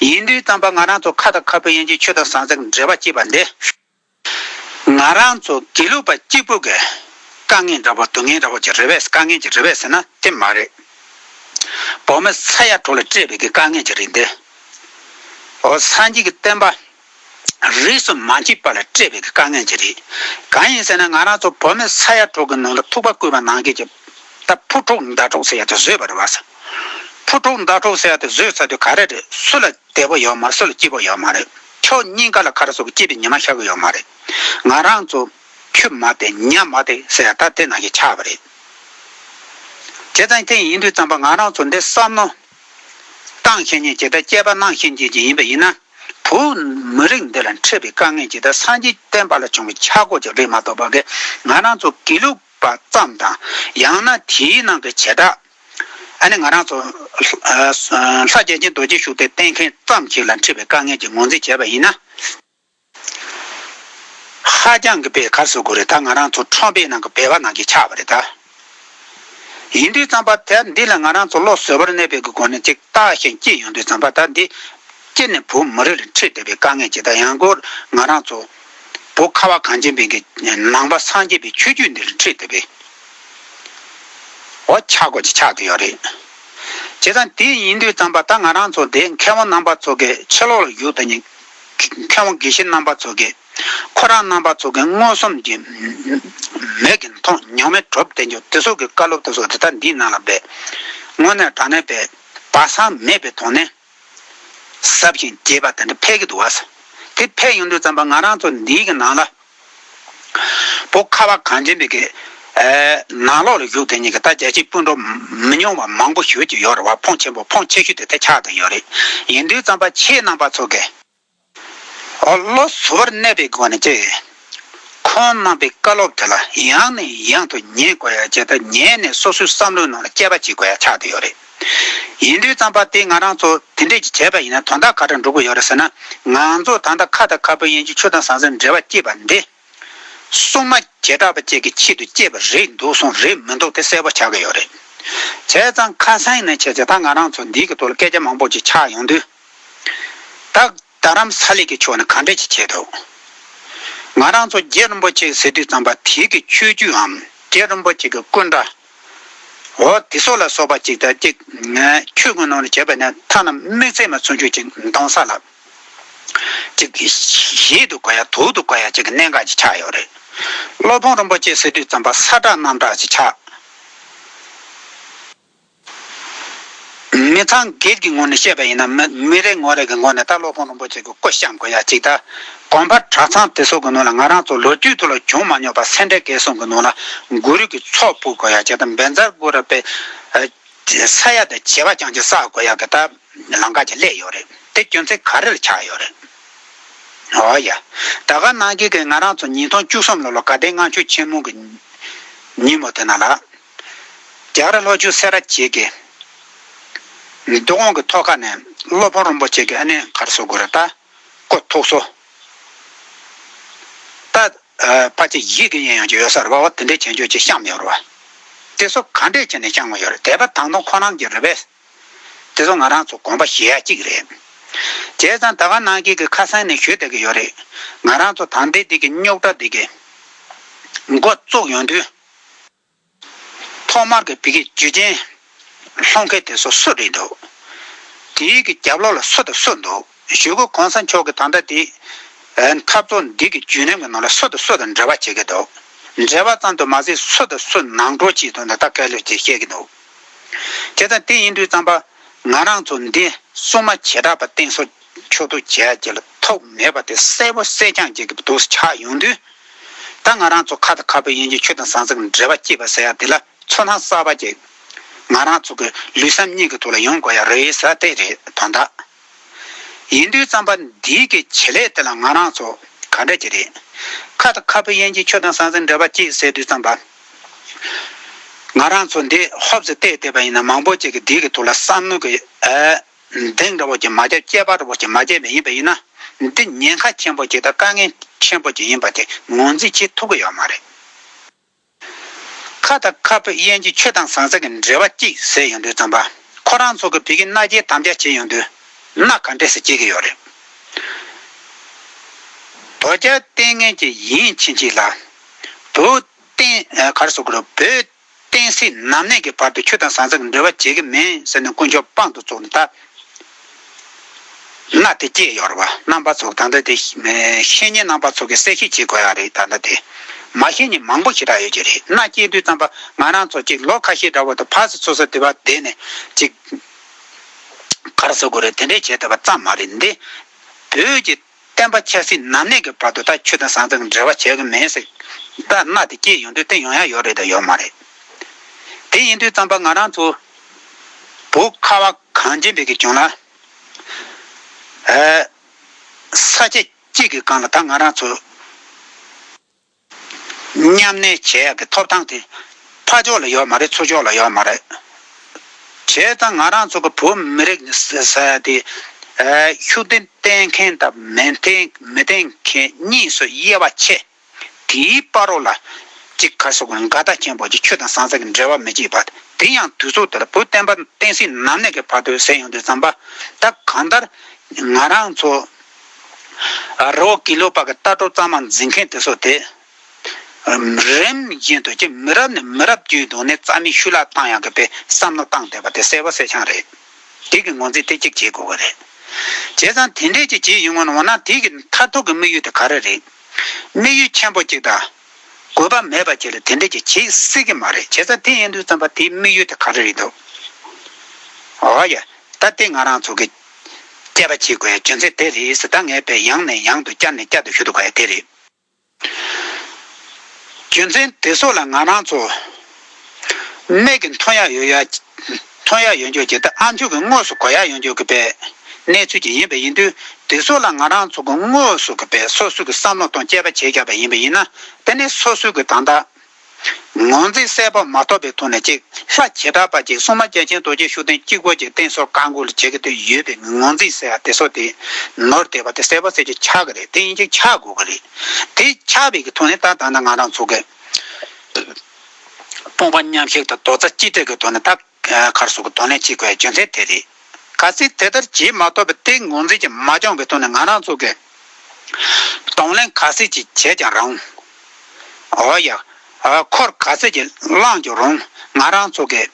ཡིན་དུས་ཙམ་པ་ང་རང་ཚོ་ཁ་དང་ཁ་ཕོ་ཡན་ཆད་ཆོས་དང་ཟང་ཟིང་གི་འབྲེལ་བ་བསྐྱེད་པ་འདི། ང་རང་ཚོ་དགེ་ལུགས་པ་གཅིག་པུ་གིས་དཀའ་ངལ་འདྲ་བོ་སྡུག་བསྔལ་འདྲ་བོ་ཅི་རེད་བས་དཀའ་ངལ་ཅི་རེད་བས་ཟེར་ན་དེ་མ་རེད། བོད་མི་ས་ཡ་དྲུག་ལ་སྤྲད་པའི་གི་དཀའ་ངལ་ཅི་རེད་འདི། ཨོ་སངས་རྒྱས་ཀྱི་བསྟན་པ་རིས་གསུམ་མ་མཆིས་པ་ལ་སྤྲད་པའི་གི་དཀའ་ངལ་ཅི་རེད། གང་ཡིན་ཟེར་ན་ང་རང་ཚོ་བོད་མི་ས་ཡ་དྲུག་གི་ནང་དུ་ཐུག་པ་བརྐུས་པ་ནང་ཁེལ་གྱི་ད་ཕུ་དཀྲུག་མདའ་དཀྲུག་ཟེར་ཡ་དེ་བཟོས་པ་རེད་བས། ཕུ་དཀྲུག་མདའ་དཀྲུག་ཟེར་ཡ་དེ་བཟོས་ཚར་དུས་ག་རེ་རེད་སུ་ལ་དད་པོ་ཡོད་མ་རེད་སུ་ལ་སྐྱིད་པོ་ཡོད་མ་རེད། ཁྱོད་སྙིང་ག་ལ་ཁ་ར་སོགས་སྐྱིད་པའི་ཉི་མ་ཤར་གི་ཡོད་མ་རེད། ང་རང་ཚོ་ཁྱོད་མ་བསྡད་ཉམས་མ་བསྡད་ཟེར་ཡ་ད་དེ་ན་ཞིག་ཆགས་པ་རེད། བྱས་ཙང་དེ་ཡིན་དུས་ཙམ་པ་ང་རང་ཚོ་འདི་བསམ་མནོ་བཏང་ཤེས་ཉེན་ཇི་ལྟར་དཔྱད་པ་གནང་ཤེས་ཉེན་ཅིག་ཡིན་པ་ཡིན་ན། བོད་མི་རིགས་འདི་ལ་འཕྲད་པའི་དཀའ་ངལ་ཇི་ལྟར་སངས་རྒྱས་བསྟན་པ་ལ་བྱུང་བའི་ཆག་སྒོ་ཅིག་རེད་མ་གཏོགས་པ་ཀྱི་ང་རང་ཚོ་དགེ་ལུགས་པ་ཙམ་དང་ཡང་ན་དེའི་ནང་གི་བྱེ་བྲག་ད་ནི་ང་རང་ཚོ་ལྷ་རྒྱལ་ཆེན་རྡོ་རྗེ་བཞུགས་སྟེ་བསྟེན་མཁན་ཙམ་ཞིག་ལ་འཁྲི་བའི་དཀའ་ངལ་གྱི་ངོས་འཛིན་བྱས་པ་ཡིན་ན། ཧ་ཅང་གི་པའི་གར་བཟོ་དགོས་རེད་ད་ང་རང་ཚོ་ཁྲོམ་པའི་ནང་གི་བེ་བ་ནང་གི་ཆགས་པ་རེད་ད། ཡིན་དུས་རྩམ་པ་དེ་འདི་ལ་ང་རང་ཚོ་བློ་བཟོད་པར་གནས་པའི་གི་སྒོ་ནས་ཅིག་བལྟ་ཞིང་སྐྱིད་ཡོང་དུས་རྩམ་པ་ད་འདི་སྐྱིད་ནས་བུ་མོ་རེ་རེ་འཁྲིད་བསྡད་པའི་དཀའ་ངལ་ཅིག་ད་ཡང་སྒོར་ང་རང་ཚོ་བོ་ཁ་བ་གངས་ཅན་པའི་གི་ནང་པ་སངས་རྒྱས་པའི་ཆོས་རྒྱུད་འདི་རེ་འཁྲིད་བསྡད་པའི། འོ་ཆགས་དགོས་ཀྱི་ཆགས་ཀྱི་ཡོད་རེད། བྱས་ཙང་དེ་ཡིན་དུས་ཙམ་པ་ད་ང་རང་ཚོ་དེ་མཁས་དབང་རྣམ་པ་ཚོ་གི་ཕྱི་ལོག་ལ་བཞུགས་དང་ཉིན་མཁས་དབང་དགེ་བཤེས་རྣམ་པ་ཚོ་གི་ཁོ་རང་རྣམ་པ་ཚོ་གི་མངོན་སུམ་གྱི་མིག་གི་མཐོང་མྱོང་མེད་གྲུབ་བསྟན་འགྱུར་དེ་སོགས་ཀྱི་བཀའ་སློབ་དེ་སོགས་དེ་ལྟར་འདིའི་ནང་ལ་སྦས། དངོས་གནས་དྲང་གནས་པའི་སྦ་གསང་མེད་པའི་དོན་ནི། ཟབ་ཞིང་རྒྱས་པ་དེ་འདྲ་ཕལ་གྱི་འདུག་བ་ཟེར། དེ་ཕལ་ཡོང་དུས་ཙམ་པོ་ང་རང་ཚོ་འདིའི་གི་ནང་ལ། བོ་ཁ་བ་གངས་ཅན་པའི་གི། ནང་ལོག་ལ་བཞུགས་དེ་གཉིས་ཀྱི་ད་རྒྱལ་སྤྱིའི་སྤུན་གྲོགས་མི་ཉུང་བ་མང་པོ་ཞོལ་གྱི་ཡོག་རེད་བ་ཕོངས་ཆེན་པོ་ཕོངས་ཆེ་ཤོས་དེ་ད་ཆགས་དང་ཡོག་རེད། ཡིན་དུས་ཙམ་པ་ཆེས་ནང་པ་ཚོ་གི། བློ་གཟུ་བོར་གནས་པའི་སྒོ་ནས་ཀྱི། ཁོང་རྣམ་པའི་བཀའ་སློབ་དེ་ལ་ཡང་ནས་ཡང་དུ་ཉན་དགོས་ཡ་ཇི་ལྟར་ཉན་ནས་སོ་སོའི་བསམ་བློའི་ནང་ལ་དཔྱད་པ་བྱེད་དགོས་ཡ་ཆགས་དེ་ཡོད་རེད། ཡིན་དུས་རྩམ་པ་དེ་ང་རང་ཚོ་དེ་འདྲས་ཀྱི་བྱས་པ་ཡིན་ན་དོན་དག་ག་འདྲ་འགྲོ་གི་ཡོད་རེད་ཟེར་ན། ང་ཚོ་ད་ལྟ་ཁ་དང་ཁ་སྤུ་ཡན་གྱི་ཆུ་དང་ཟང་ཟིང་འབྲེལ་བ་སྐྱེས་པ་འདི། སྲུང་མ་བྱེ་བྲག་པ་བཅས་ཀྱི་ཆེད་དུ་སྤྱད་པ་རེད་འདུག་སོང་རེད་མི་འདུག་དེ་གསལ་པོ་ཆགས་ཀྱི་ཡོད་རེད། བྱས་ཙང་ཁ་སང་ནས་བྱས་ཚེ་ད་ང་རང་ཚོ་འདིའི་གི་ཐོག་ལ་སྐད་ཆ་མང་པོ་ཅིག་ཆགས་ཡོང་དུས། ད་རྡ་རམ་ས་ལའི་གི་ཕྱོགས་ནས་ག་འདྲ་ཅིག་བྱས་འདུག་ང་རང་ཚོ་རྗེ་རིན་པོ་ཆེ་ཟེར་དུས་ཙམ་པ་དེའི་གི་ཆོས་བརྒྱུད་འམ་རྗེ་རིན་པོ་ཆེ་གི་སྐུ་འདྲ་བོ་དེ་སོགས་ལ་སོགས་པ་ཅིག་ད་ཅིག་ཆོས་ཀུན་ནོར་ལ་བྱས་པ་ནས་མཐའ་རྣམས་དམིགས་བརྩེ་མ་ཚུར་འཇུག་ཅིག་མདོང་ས་ལགས། ཅིག། ཞིག་ཏུ་བཀའ་ཡག་དུག་ཏུ་བཀའ་ཡག་ཅེས་གནད་འགག་ཅིག་ཆགས་ཡོད་རེད། སློབ་དཔོན་རིན་པོ་ཆེ་སྲིད་ཁྲིར་བརྩམས་པ་ས་བསྒྲགས་གནམ་བསྒྲགས་ཅིག་ཆགས། མི་ཚང་སྒེར་གྱི་ངོ་ནས་བཤད་པ་ཡིན་ན་མི་རེ་ངོ་རེ་གི་ངོ་ནས་ད་སློབ་དཔོན་རིན་པོ་ཆེ་གི་སྐུ་བཤམས་དགོས་ཡག་ཅིག་ད། གོང་པར་གྲྭ་ཚང་དེ་ཚོ་གི་ནང་ལ་ང་རང་ཚོ་ལོ་རྒྱུས་ཐོག་ལ་བྱུང་མ་མྱོང་པ་སེ་འབྲས་སྐལ་བཟང་གི་ནང་ལ་གུ་རུ་གི་ཚོགས་ཕུལ་དགོས་ཡག་ཅིག་ད་འབེན་རྩར་གུ་རུ་པས་ས་ཡ་དང་བྱེ་བ་ཅང་ཅིག་བསགས་དགོས་ཡག་གི་ད། ལང་ཀ་གྱི་ཀླད་ཡོད་རེད་དེ་སྐྱོན་ཚེ་ག་རེ་ལ་ཆགས་ཡོད་རེད། འོ་ཡ། ད་ག་ནང་གི་གི་ང་རང་ཚོ་ཉིས་སྟོང་བཅུ་གསུམ་ལོ་ལོ་ག་དེ་སྔ་ཆོས་ཆེན་མོ་གི་ཉིན་མོ་དེ་ན་ལ་རྒྱ་གར་ལྷོ་ཆུ་སེ་ར་བྱེས་ཀྱི་རྡོ་གོང་གི་ཐོག་ཁ་ནས་སློབ་དཔོན་རོན་པོ་ཆེ་གི་ཨ་ནེ་གར་སོ་གུ་ར་ཏཱ་ཀོ་ཐུགས་སོ་ད་ཕ་ཆེ་ཡིད་གི་ཡན་ཡང་ཅི་ཡོད་སར་བ་བ་དེ་འདྲའི་བྱེད་འཇོག་ཅིག་བཤམས་ཡོད་རེད་བ་དེ་སོ་ག་འདྲས་བྱས་ནས་བཤམས་ཡོད་རེད་དེ་བ་དང་དུང་ཁོ་རང་གི་རེད་བས། དེ་ཚོ་ང་རང་ཚོ་དགོངས་པ་བཞེས་ཡ་གཅིག་རེད། བྱས་ཙང་ད་ག་ནང་ཁྱེད་ཀྱི་ཁ་སང་ནས་ཞུས་བསྡད་ཀྱི་ཡོད་རེད། ང་རང་ཚོ་དང་དེ་དེ་ཀྱི་རྙོག་དྲ་དེ་ཀྱི་འགོ་བཙུགས་ཡོང་དུས། ཐོག་མར་གྱི་བི་གི་ཇུས་ཆེན་ལྷོ་མཁན་དེ་ཚོ་སུ་རེད་འདུག་དེ་ཡིག་གི་རྒྱབ་ལོག་ལ་སུ་དང་སུ་འདུག་ཞུ་གི་གོང་ས་མཆོག་གི་ད་ལྟ་དེ་འཐབ་རྩོད་འདི་ཀྱི་ཇུས་ལམ་གྱི་ནང་ལ་སུ་དང་སུ་དང་འབྲེལ་བ་བྱེད་ཀྱི་འདུག་འབྲེལ་བ་ཙམ་དུ་མ་ཟད་སུ་དང་སུ་ནང་འགྲོ་བྱེད་འདུག་ད་ལྟ་སྐལ་ལོས་དེ་བཤད་ཀྱི་འདུག། དེ་དང་དེ་ཡིན་དུས་བརྩམས་པ། ང་རང་ཚོ་འདི་སྲུང་མ་བྱེ་བྲག་པ་སྟེང་སོ་ཆོད་དུ་བྱས་རྗེས་ལ་ཐོགས་མེད་པ་དེ་གསལ་པོ་གསལ་རྐྱང་རྒྱལ་ཁབ་དུ་ཆགས་ཡོང་དུས། ད་ང་རང་ཚོ་ཁ་དང་ཁ་སྤུ་ཡན་གྱི་ཆུ་དང་ཟངས་ཟེགས་འདྲེས་པ་སྐྱེས་པ་ཟེར་ཡག་དེ་ལ་ཚོར་སྣང་གསར་པ་སྐྱེས། ང་རང་ཚོ་གི་ལུས་སམ་སྙིང་གི་ཐུགས་ལ་ཡོང་དགོས་ཡག་རེད་ས་དེ་རེད་དོན་དག། ཡིན་དུས་རྩམ་པ་འདིའི་གི་བྱེད་ལས་དེ་ལ་ང་རང་ཚོ་ག་འདྲ་གྱི་རེད། ཁ་ད་ཁ་བུ་ཡན་གྱི་ཁྱོད་དང་ས་འཛིན་འདྲ་པ་གཅིག་ཟེར་དུས་རྩམ་པ་ང་རང་ཚོ་འདི་ཧོབ་ཙེ་བལྟས་བལྟས་པ་ཡིན་ན་མང་པོ་གཅིག་གི་འདི་གི་ཐུགས་ལ་བསམ་མནོ་གི་གདེང་འདྲ་བོ་གཅིག་མ་བརྒྱབ་སྐྱེས་པ་འདྲ་བོ་གཅིག་མ་བརྒྱབ་པ་ཡིན་པ་ཡིན་ན་འདི་ཉེན་ཁ་ཆེན་པོ་གཅིག་དང་དཀའ་ངལ་ཆེན་པོ་གཅིག་ཡིན་པ་དེ་ངོས་འཛིན་བྱེད་ཐུབ་གི་ཡོད་མ་རེད། ཁ་དང་ཁ་སྤོས་དབྱེན་གྱི་ཆོས་དང་ཟངས་ཟེར་གྱི་འབྲེལ་བ་གཅིག་ཟེར་ཡོང་དུས་ཙམ་པ་ཁོ་རང་ཚོ་གི་བུ་གི་མནའ་སྐྱེལ་དམ་བཅའ་བྱེད་ཡོང་དུས་མནའ་ག་འདྲས་ཟེར་གྱི་ཡོད་རེད། དོ་རྒྱལ་བསྟེན་ངན་གྱི་ཡིན་ཕྱིན་ཅི་ལ། བུ་བསྟེན་གར་སོགས་ཀྱི་བུ་བསྟེན་སྲིད་ནམ་གནས་ཀྱི་བར་དུ་ཆོས་དང་ཟངས་ཟེར་གྱི་འབྲེལ་བ་བྱེད་ཀྱི་མིན་ཟེར་ནས་དཀོན་མཆོག་དཔང་དུ་བཙུགས་ནས་ད། ན་དེ་སྐྱེས་ཡོར་བ་རྣམ་པ་ཚོགས་ད་ལྟ་དེ་བཤེས་གཉེན་རྣམ་པ་ཚོགས་ཀྱི་གསལ་བཤད་བྱེད་དགོས་ཡག་རེད་ད་ལྟ་དེ་མ་བཤེས་གཉེན་མང་པོ་ཞེ་དྲག་ཡོད་ཀྱི་རེད་ན་སྐྱེས་དུས་ཙམ་པ་ང་རང་ཚོ་ཅིག་ལོ་ཁ་ཤས་འདྲ་བོ་དང་ཕར་སུ་ཚུར་ས་དེ་བ་བསྡད་ནས་ཅིག་གར་ཟ་དགོས་རེད་དེ་འདྲས་བྱེད་ཐུབ་པ་ཙམ་མ་རེད་འདི་བོད་ཀྱི། བསྟན་པ་ཆགས་སྲིད་ནམ་གནས་ཀྱི་བར་དུ་ད་ཁྱོད་དང་སང་ཙང་འབྲེལ་བ་བྱེད་གི་མེད་ཟེར་གི་རྟ་རྣ་དེ་སྐྱེས་ཡོང་དུས་བསྟན་ཡོང་ཡ་ཡོད་རེད་དང་ཡོད་མ་རེད། དེ་ཡིན་དུས་རྩམ་པ་ང་རང་ཚོ་བོ་ཁ་བ་གངས་ཅན་པའི་གི་གྱོང་ལ་ཨེ། ས་སྐྱ་གཅིག་གི་གང་ལ་ད་ང་རང་ཚོ། མཉམ་གནས་བྱས་ཡག་གི་ཐོབ་ཐང་དེ། ཕ་ཕྱོགས་ལ་ཡོད་མ་རེད་ཚུར་ཕྱོགས་ལ་ཡོད་མ་རེད། བྱས་ཙང་ང་རང་ཚོ་གི་བོད་མི་རིགས་དེ། ཤུགས་ལྡན་བསྟེན་མཁན་དང་མི་བསྟེན་མཁན་གཉིས་སུ་དབྱེ་བ་ཕྱེ། དེའི་དཔའ་རོགས་ལ། ཅིག་ག་སོག་གི་འགལ་ཟླ་ཆེན་པོ་གཅིག་ཆོས་དང་ཟང་ཟིང་གི་འབྲེལ་བ་མི་བྱེད་པ་དེ་ཡང་དུས་ཚོད་དེར་བོད་བསྟན་པ་བསྟན་སྲིད་ནམ་གནས་ཀྱི་བར་དུ་ཟད་ཡོང་དུས་བརྩམས་པ་ད་གང་ལྟར་ང་རང་ཚོ། རོ་ཀི་ལོ་པ་གི་ལྟ་གྲུབ་གཙང་མ་འཛིན་མཁན་དེ་ཚོ་དེ། རིམ་བཞིན་དུ་ཀྱི་མི་རབས་ནས་མི་རབས་བརྒྱུད་འདུག་ནས་རྩ་མེད་ཤུ་ལ་བཏང་ཡང་གི་པའི་བསམ་བློ་བཏང་བསྡད་པ་དེ་གསལ་བོ་གསལ་ཆང་རེད། དེ་གི་ངོ་འཛིན་དེ་གཅིག་བྱེད་དགོས་གི་རེད། བྱས་ཙང་དེ་འདྲས་ཀྱི་བྱེད་ཡུལ་ངོ་ན་འོ་ན་དེ་གི་མཐར་ཐུག་གི་དམིགས་ཡུལ་དེ་ག་རེ་རེད། དམིགས་ཡུལ་ཆེན་པོ་གཅིག་དང། དགོས་པ་མེད་པ་གཅིག་ལ་དེ་འདྲས་ཀྱི་བྱེད་སྲིད་གི་མ་རེད་བྱས་ཙང་དེ་ཡིན་དུས་ཙམ་པ་དེའི་དམིགས་ཡུལ་དེ་ག་རེ་རེད་འདུག། ཨོ་ཡ། ད་དེ་ང་རང་ཚོ་གི། དཔྱད་པ་བྱེད་དགོས་བྱུང་ཚེ་དེ་རིགས་གཟི་ལྟ་ངན་པས་ཡང་ནས་ཡང་དུ་བསྐྱར་ནས་བསྐྱར་དུ་ཞུ་ཐུབ་པ་དེ་རེད། རྒྱུ་མཚན་དེ་སོགས་ལ་ང་རང་ཚོ་སྨད་ཀྱི་མཐོང་ཡག་ཡོད་མཐོང་ཡག་ཡོད་འཇོག་བྱེད་སྟབས་ཨ་མཆོག་གི་དངོས་སུ་གོ་ཡག་ཡོད་འཇོག་གི་པའི་གནས་ཚུལ་ཅིག་ཡིན་པས་ཡིན་དུས་དེ་སོགས་ལ་ང་རང་ཚོ་དངོས་སུ་གི་པའི་སོ་སོ་གི་བསམ་བློ་དང་དཔྱད་པ་བྱེད་དགོས་པ་ཡིན་པས་ཡིན་ན་དེ་ནི་སོ་སོ་གི་དང་བདག་ངང་ཚིག་གསལ་པོ་མ་ཐོབ་པའི་ཐོག་ནས་ཅིག་ལྷ་བྱེ་བྲག་པ་གཅིག་སྲུང་མ་རྒྱལ་ཆེན་རྡོ་རྗེ་ཤུགས་ལྡན་གཅིག་པོ་གཅིག་བསྟན་སོགས་བཀའ་འགུག་ལ་བྱེད་ཀྱི་དོན་ཡོད་པའི་ངང་ཚིག་གསལ་བ་དེ་སོགས་དེ་ནོར་དེ་བ་དེ་གསལ་བ་གསལ་བྱེད་ཆགས་ཀྱི་རེད་དེ་ཡིན་གཅིག་ཆགས་དགོས་ཀྱི་རེད་དེ་ཆགས་བའི་གི་ཐོག་ནས་ད་ད་ནང་ང་རང་ཚོ་གི་སྤོང་པ་མཉམ་གཞག་དང་རྡོག་རྩ་གཅིག་སྒྲིལ་གྱི་ཐོག་ནས་ད། མཁར་སོགས་ཀྱི་དོན་ལས་གཅིག་པའི་རྒྱུ་མཚན་དེ་རེད། གལ་སྲིད་དེ་ལྟར་བྱེད་མ་ཐུབ་པའི་ཏིང་ངོ་འཛིན་གྱི་མ་འགྱངས་པའི་དོན་ནི་ང་རང་ཚོ་གིས་གདོང་ལེན་ག་ཚོད་ཅིག་བྱས་ཀྱང་རུང། འོ་ཡ། འཁོར་ག་ཚོད་ཅིག་བསླངས་ཀྱང་རུང་ང་རང་ཚོ་གིས་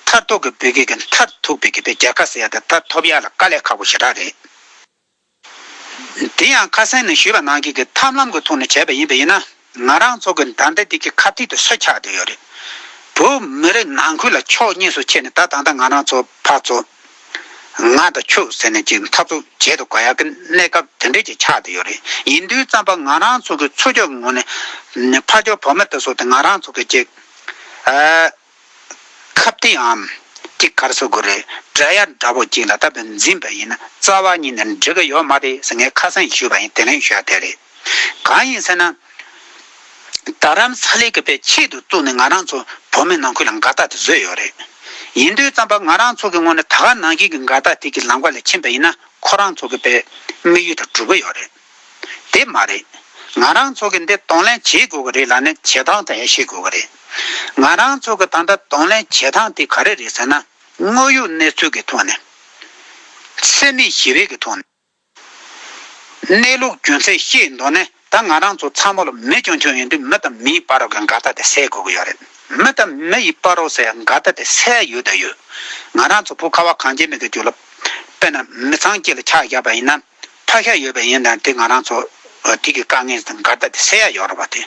མཐར་ཐུག་གི་བོད་སྐད་ཀྱི་མཐར་ཐུག་པའི་སྐད་ཆ་རྒྱལ་ཁ་ཟེར་ཡ་དེ་མཐར་ཐུབ་ཡ་ལ་དཀའ་ལས་ཁག་པོ་ཞེ་དྲག་རེད། དེ་ཡང་ཁ་སང་ནས་ཞུས་པ་ནང་བཞིན་གྱི་ཐབས་ལམ་གྱི་ཐོག་ནས་བྱས་པ་ཡིན་པས་ཡིན་ན་ང་རང་ཚོ་གི་མདའ་མདའ་དེ་གི་ཁ་ཐིག་ཏུ་ས་ཆགས་བསྡད་ཡོད་རེད། བོད་མི་རིགས་ནང་ཁུལ་ལ་ཕྱོགས་གཉིས་སུ་ཕྱེ་ནས་ད་ད་ལྟ་ང་རང་ཚོ་ཕར་ཚོ། ང་དང་ཁྱོད་ཟེར་ནས་ཀྱི་འཐབ་རྩོད་བྱེད་དུ་ག་ཡག་གི་གནས་སྐབས་དེ་འདྲས་ཀྱི་ཆགས་བསྡད་ཡོད་རེད་ཡིན་དུས་བརྩམས་པ་ང་རང་ཚོ་གི་ཚོ་ཅག་གི་ངོ་ནས་ཕ་ཅོག་བུ་མོ་དེ་ཚོ་དང་ང་རང་ཚོ་གི་གཅིག། ཁབ་སྟེགས་འམ། ཅིག་གར་བཟོ་དགོས་རེད་དྲ་ཡ་འདྲ་བོ་ཅིག་ལ་ད་བོད་འཛིན་པ་ཡིན་ན་རྩ་བ་ཉིད་ནས་འགྲིག་གི་ཡོད་མ་རེད་ཟེར་ངས་ཁ་སང་ཞུས་པ་ཡིན་དེ་ལན་ཞུས་ཡ་དེ་རེད། གང་ཡིན་ཟེར་ན། རྡ་རམ་ས་ལའི་གི་པའི་ཆེད་དུ་བཙུགས་ནས་ང་རང་ཚོ་བོད་མི་ནང་ཁུལ་ལ་འགལ་ཟླ་དེ་བཟོས་ཡོད་རེད། ཡིན་དུས་ཙམ་པ་ང་རང་ཚོ་གི་ངོ་ནས་ད་ག་ནང་བཞིན་གི་འགལ་ཟླ་དེ་གི་ལམ་ཀ་ལས་ཕྱིན་པ་ཡིན་ན་ཁོ་རང་ཚོ་གི་པའི་དམིགས་ཡུལ་དང་གྲུབ་གི་ཡོད་རེད། དེ་མ་རེད། ང་རང་ཚོ་གི་འདི་གདོང་ལེན་བྱེད་དགོས་ཀྱི་རེད་ལ་ནི་བྱེད་སྟངས་དེ་ཡང་ཤེས་དགོས་ཀྱི་རེད། ང་རང་ཚོ་གི་ད་ལྟ་གདོང་ལེན་བྱེད་སྟངས་དེ་ག་རེ་རེད་ཟེར་ན། དངོས་ཡོད་གནས་ཚུལ་གྱི་ཐོག་ནས། སེམས་མེད་ཞི་བའི་གི་ཐོག་ནས། གནས་ལུགས་རྒྱུ་མཚན་བཤད་མདོག་ནས་ད་ང་རང་ཚོ་ཚང་མ་ལ་མི་ཆུང་ཆུང་ཡིན་དུས་མི་དང་མིའི་དཔའ་རོགས་ཀྱི་འགལ་ཟླ་དེ་སེལ་དགོས་ཀྱི་ཡོད་རེད། མི་དང་མི་ཡི་དཔའ་རོགས་སའི་འགལ་ཟླ་དེ་སེལ་ཡོད་དང་ཡོད། ང་རང་ཚོ་བུ་ཁ་བ་གངས་ཅན་མེད་དུ་གྱུར་ལ། དཔེར་ན་མི་ཚང་སྐྱིད་ལ་ཆགས་བཞག་པ་ཡིན་ན། ཐག་ཤ་ཡོད་པ་ཡིན་ན་དེ་ང་རང་ཚོ་དུས་ཀྱི་དཀའ་ངལ་དང་འགལ་ཟླ་དེ་སེལ་ཡ་ཡོད་རེད་བ་དེ།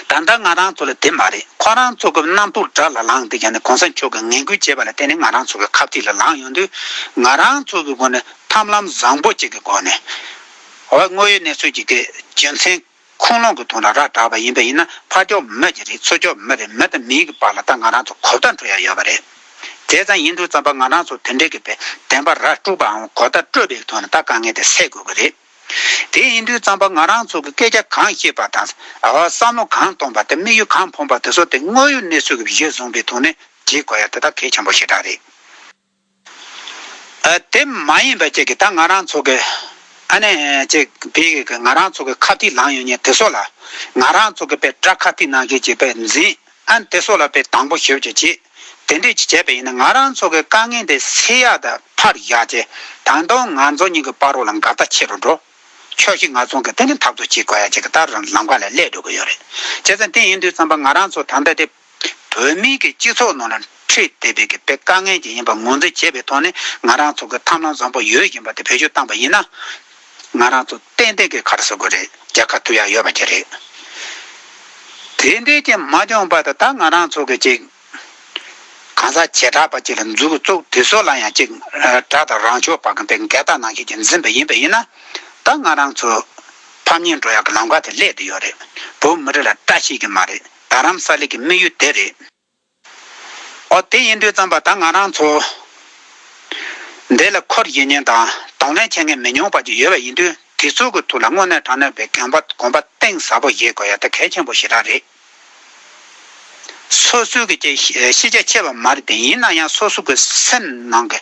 ད་ལྟ་ང་རང་ཚོ་ལ་དེ་མ་རེད་ཁོ་རང་ཚོ་གི་རྣམ་རྟོག་དགྲ་ལ་ལངས་ཏེ་ཡང་ན་གོང་ས་མཆོག་གི་ངན་སྐུལ་བྱས་པ་ལ་བརྟེན་ནས་ང་རང་ཚོ་གི་ཁབ་ཚིག་ལ་ལངས་ཡོང་དུས་ང་རང་ཚོ་གི་སྒོ་ནས་ཐབས་ལམ་བཟང་པོ་ཅིག་གི་སྒོ་ནས་དངོས་ཡོད་གནས་ཚུལ་གྱི་རྒྱུ་མཚན། ཁུངས་ལུང་གི་དོན་ར་ར་གྲགས་པ་ཡིན་པ་ཡིན་ན་ཕ་སྐྱོ་མོ་གྱི་རིགས་ཚོ་སྐྱོ་མོ་རེད་མི་དང་མིའི་གི་བར་ལ་ད་ང་རང་ཚོ་གོ་བརྡ་འཕྲོད་ཡ་ཡོད་པ་རེད། དེ་ཙམ་ཡིན་འདུག་བརྩམས་པ་ང་རང་ཚོ་དེ་འདྲའི་གི་བེད་དན་པ་ར་དཀྲུགས་པའང་གོ་བརྡ་སྤྲོད་པའི་གི་དོན་ལ་ད་དཀའ་ངལ་དེ་སེལ་དགོས་གི་རེད། དེ་ཡིན་དུས་བརྩམས་པ་ང་རང་ཚོ་གི་སྐད་ཆ་གང་ཤེས་པ་དང། བསམ་བློ་གང་གཏོང་པ་དང་དམིགས་ཡུལ་གང་འཕོངས་པ་དེ་ཚོ་དེ་དངོས་ཡོད་གནས་ཚུལ་གི་གཞིར་བཟུང་པའི་ཐོག་ནས་བྲིས་དགོས་ཡ་དེ་ད་གལ་ཆེན་པོ་ཞེ་དྲག་རེད། དེ་མ་ཡིན་པ་ཅིག་གིས་ད་ང་རང་ཚོ་གི། ཨ་ནེ། ཅེས་པས་ང་རང་ཚོ་གི་ཁ་ཐིག་ལངས་ཡོད་ཉེ་དེ་སོགས་ལ། ང་རང་ཚོ་གི་པའི་སྐྲ་ཁ་ཐིག་ནང་བཞིན་གྱི་པའི་འཛིན་ཨ་དེ་སོགས་ལ་པའི་དང་པོ་ཞིབ་ཅིག་བྱེད། དེ་འདྲས་ཅིག་བྱས་པས་ཡིན་ན་ང་རང་ཚོ་གི་དཀའ་ངལ་འདི་སེལ་ཡག་དང་འཕར་ཡག་བྱེད་དང་དང་ང་ཚོ་གཉིས་ཀྱི་པར་རོ་ལ་འགལ་ཟླ་ཆེ་རུ་འགྲོ། ཕྱོགས་བཞི་ང་ཚོང་གི་དེ་ནི་འཐབ་རྩོད་བྱེད་དགོས་ཡ་བྱེད་ཀྱི་ལྟར་ལམ་ཁ་ལ་སླེབས་འགྲོ་གི་ཡོད་རེད། བྱས་ཙང་དེ་ཡིན་དུས་ཙམ་པ་ང་རང་ཚོ་ད་ལྟ་དེ། བོད་མིའི་གི་སྤྱི་ཚོགས་ནང་ལ་འཁྲིད་དེ་བས་གི་པའི་དཀའ་ངལ་གྱི་ཡིན་པ་ངོས་འཛིན་བྱེད་པའི་ཐོག་ནས་ང་རང་ཚོ་གི་ཐབས་ལམ་བཟང་པོ་ཡོད་བཞིན་པ་དེ་བེད་སྤྱོད་བཏང་པ་ཡིན་ན། ང་རང་ཚོ་ཏན་ཏན་གི་ཁར་ཟོ་དགོས་རེད་རྒྱལ་ཁ་ཐུབ་ཡག་ཡོད་པ་གྱི་རེད། དེ་འབྲེལ་གྱི་མ་འཇོན་པ་དེ་དག་ང་རང་ཚོ་གི་ཅིག་གང་ཟག་བྱེ་བྲག་པ་ཅིག་ལ་འཛུགས་བཙུགས་དེ་ཚོ་ལ་ཡང་ཅིག་དྲག་དང་རང་ཕྱོགས་པ་གི་པའི་འགལ་ཟླ་ནང་ཞིག་གི་འཛིན་པ་ཡིན་པ་ཡིན་ན། ད་ང་རང་ཚོ་ཕམ་ཉེས་འགྲོ་ཡག་གི་ལམ་ཁ་དེ་སླད་དུ་ཡོད་རེད་བོད་མི་རིགས་ལ་བཀྲ་ཤིས་གི་མ་རེད། རྡ་རམ་ས་ལའི་གི་དམིགས་ཡུལ་དེ་རེད། ཨོ་དེ་ཡིན་དུས་བརྩམས་པ་ད་ང་རང་ཚོ་འདི་ལ་ཁོར་ཡིག་ཉན་དང་གདོང་ལེན་བྱེད་མཁན་མི་ཉུང་བ་ཅིག་ཡོད་པ་ཡིན་དུས་དེ་ཚོ་གི་ཐུགས་ལ་དངོས་གནས་དྲང་གནས་པའི་གན་པ་གོམ་པ་གཏིང་ཟབ་པོ་བཞེས་དགོས་ཡ་ད་གལ་ཆེན་པོ་ཞིག་རག་རེད། སོ་སོའི་གི་ཅིག་ཤེས་རྒྱ་ཆེ་བ་མ་རེད་དེ་ཡིན་ན་ཡང་སོ་སོ་གི་སེམས་ནང་གི་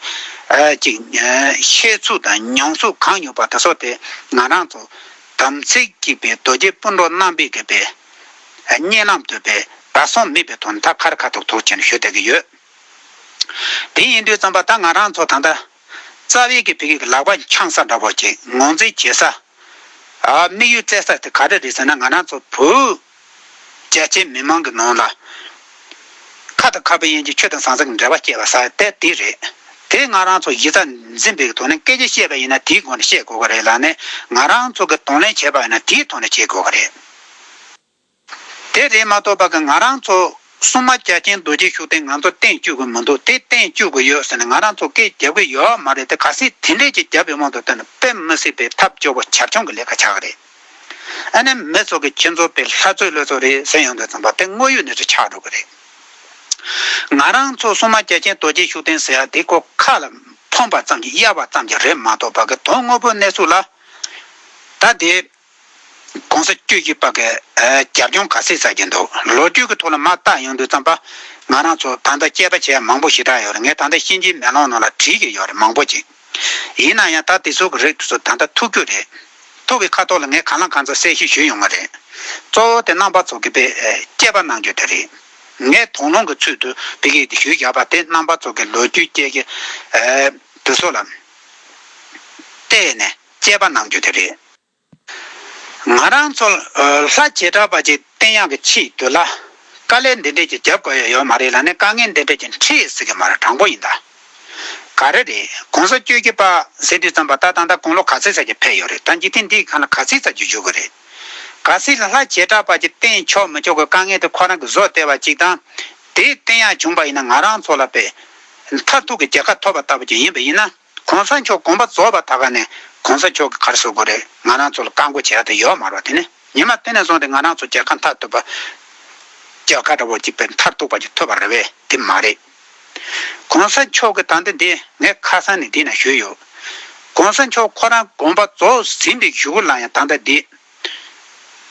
ཅིག་ཤེས་ཚུལ་དང་མྱོང་ཚུལ་གང་ཡོད་པ་དེ་ཚོ་དེ་ང་རང་ཚོ་དམ་ཚིག་གཅིག་པའི་རྡོ་རྗེ་སྤུན་གྲོགས་རྣམ་པས་གི་པའི་སྙན་ནམ་དུ་བས་ད་སོང་མེད་པའི་དོན་ད་ཁར་ཁ་ཐོག་ཐོག་ཅན་ཤོད་ད་གི་ཡོད། དེ་ཡིན་དུས་བརྩམས་པ་ད་ང་རང་ཚོ་ད་ལྟ་རྩ་བའི་གི་བོད་སྐད་གི་ལག་པ་འཆང་ས་འདྲ་བོ་ཅིག་ངོ་འཛིན་བྱེད་ས། དམིགས་ཡུལ་བཙལ་ས་དེ་ག་རེ་རེད་ཟེར་ན་ང་རང་ཚོ་བོད་རྒྱ་ཆེའི་མི་མང་གི་ནང་ལ་ཁ་དང་ཁ་བའི་ཡན་གྱི་ཆོས་དང་ཟང་ཟིང་གི་འབྲེལ་བ་སྐྱེ་བ་ས་དེ་དེ་རེད། དེ་ང་རང་ཚོ་གཞི་རྩ་འཛིན་པའི་གི་དོན་ནི་སྐད་ཆ་བཤད་པ་ཡིན་ན་དེའི་སྒོ་ནས་བཤད་དགོས་གི་རེད་ལ་ནི་ང་རང་ཚོ་གི་དང་ལེན་བྱེད་པ་ཡིན་ན་དེའི་ཐོག་ནས་བྱེད་དགོས་གི་རེད། དེ་རེད་མ་གཏོགས་པ་ང་རང་ཚོ་སྲུང་མ་རྒྱ་ཆེན་རྡོ་རྗེ་ཤུགས་ལྡན་ང་ཚོ་སྟེང་བཅུག་གི་མི་འདུག་དེ་སྟེང་བཅུག་གི་ཡོད་ཟེར་ནས་ང་རང་ཚོ་སྐད་རྒྱབ་གི་ཡོད་མ་རེད་དེ་ག་སྲིད་དེ་འདྲས་ཀྱི་རྒྱབ་པའི་དབང་དུ་བཏོན་ན་དཔེ་མི་སྲིད་པའི་ཐབས་སྐྱོ་བོ་བྱབ་ཆུང་གི་ལས་ཀ་བྱ་གི་རེད་ཨ་ནེ་མི་ཚོ་གི་ཁྱེད་ཚོ་པའི་ལྷ་ཚོད་ལོད་ཚོ་རེད་ཟེར་ཡོང་དུས་ཙམ་པ་དེ་དངོས་ཡོད་ནས་ཚོ་ཆགས་འགྲོ་གི་རེད་ང་རང་ཚོ་སྲུང་མ་རྒྱ་ཆེན་རྡོ་རྗེ་ཤུགས་ལྡན་ཟེར་ཡ་དེ་ཁོ་ཁ་ལ་ཕོངས་པ་ཙམ་གྱི་གཡར་བ་ཙམ་གྱི་རེད་མ་གཏོགས་པ་གི་དོན་དངོས་པོ་གནས་ཚུལ་ལ་ད་དེ། གོང་ས་བཅུ་གཅིག་པ་གི་རྒྱབ་ལྗོངས་ག་ཚད་ཟ་གྱི་འདུག་ལོ་རྒྱུས་ཀྱི་ཐོག་ལ་མ་བརྟག་ཡོང་དུས་ཙམ་པ། ང་རང་ཚོ་ད་ལྟ་དཔྱད་པ་བྱས་ཡ་མང་པོ་ཞིག་གྲགས་ཡོད་རེད་ངས་ད་ལྟ་གཤིན་རྗེའི་མེ་ལོང་ནང་ལ་བྲིས་ཀྱི་ཡོད་རེད་མང་པོ་ཅིག། ཡིན་ན་ཡང་ད་དེ་ཚོ་གི་རིགས་དེ་ཚོ་ད་ལྟ་ཐུག་རྒྱུ་རེད། ཐུག་གི་ཁ་ཐོག་ལ་ངས་གང་ལ་གང་འཚལ་གསལ་བཤད་ཞུས་ཡོང་བ་རེད། གཙོ་བོ་དེ་རྣམ་པ་ཚོ་གི་པའི་དཔྱད་པ་གནང་རྒྱུ་དེ་རེད། ངས་དོགས་སློང་གི་ཚུལ་དུ་བི་གིས་དེ་ཞུས་བཞག་པ་དེ་རྣམ་པ་ཚོ་གི་ལོ་རྒྱུས་དཔྱད་ཀྱི་དེ་ཚོ་ལ་བལྟས་ནས་དཔྱད་པ་གནང་རྒྱུ་དེ་རེད། ང་རང་ཚོ་ལྷ་བྱེ་བྲག་པ་ཅིག་བསྟེན་ཡག་གི་ཆེད་དུ་ལ་དཀའ་ལས་འདི་འདྲས་ཀྱི་རྒྱབ་དགོས་ཡག་ཡོད་མ་རེད་ལ་ནས་དཀའ་ངལ་འདི་འདྲས་ཀྱི་འཕྲད་ཟེར་གི་མ་རེད་དྲང་པོ་ཡིན་ད་ག་རེ་རེད་གོང་ས་བཅོས་ཀྱི་པ་ཟེར་དུས་ཙམ་པ་ད་ད་ད་དགུང་ལོ་ག་ཚོད་ཟེར་གྱི་ཕེབས་ཡོད་རེད་ད་འཇིག་རྟེན་འདི་གང་ལ་ག་ཚིག་ཙམ་གྱི་བཞུགས་གི་རེད་ག་སྲིད་ལ་ལྷ་བྱེ་བྲག་པ་ཅིག་བསྟེན་ཆོག་མི་ཆོག་གི་དཀའ་ངལ་དེ་ཁོ་རང་གི་བཟོ་སྟེར་བ་ཅིག་དང་དེ་བསྟེན་ཡག་བྱུང་པ་ཡིན་ན་ང་རང་ཚོ་ལ་པའི་མཐར་ཐུག་གི་རྒྱལ་ཁ་ཐོབ་པ་ལྟ་བུ་ཅིག་ཡིན་པ་ཡིན་ན། གོང་ས་མཆོག་དགོངས་པ་རྫོགས་པ་ད་ག་ནས་གོང་ས་མཆོག་གི་གར་སོ་དགོས་རེད་ང་རང་ཚོ་ལ་བཀའ་འགོ་བྱས་ཡག་ཏུ་ཡོད་མར་བ་དེ་ནས་ཉི་མ་དེ་ནས་བཟུང་སྟེ་ང་རང་ཚོ་རྒྱལ་ཁ་མཐར་ཐུག་པ་རྒྱལ་ཁ་འདྲ་བོ་གཅིག་པའི་མཐར་ཐུག་པ་ཅིག་ཐོབ་པ་རེད་བས་དེ་མ་རེད། གོང་ས་མཆོག་གི་དང་དེ་འདི་ངས་ཁ་སང་ནས་འདི་ན་ཞུས་ཡོད། གོང་ས་མཆོག་ཁོ་རང་དགོངས་པ་རྫོགས་ཟིན་པའི་ཞུ་གུ་ལ་ཡང་ད་ལྟ་འདི་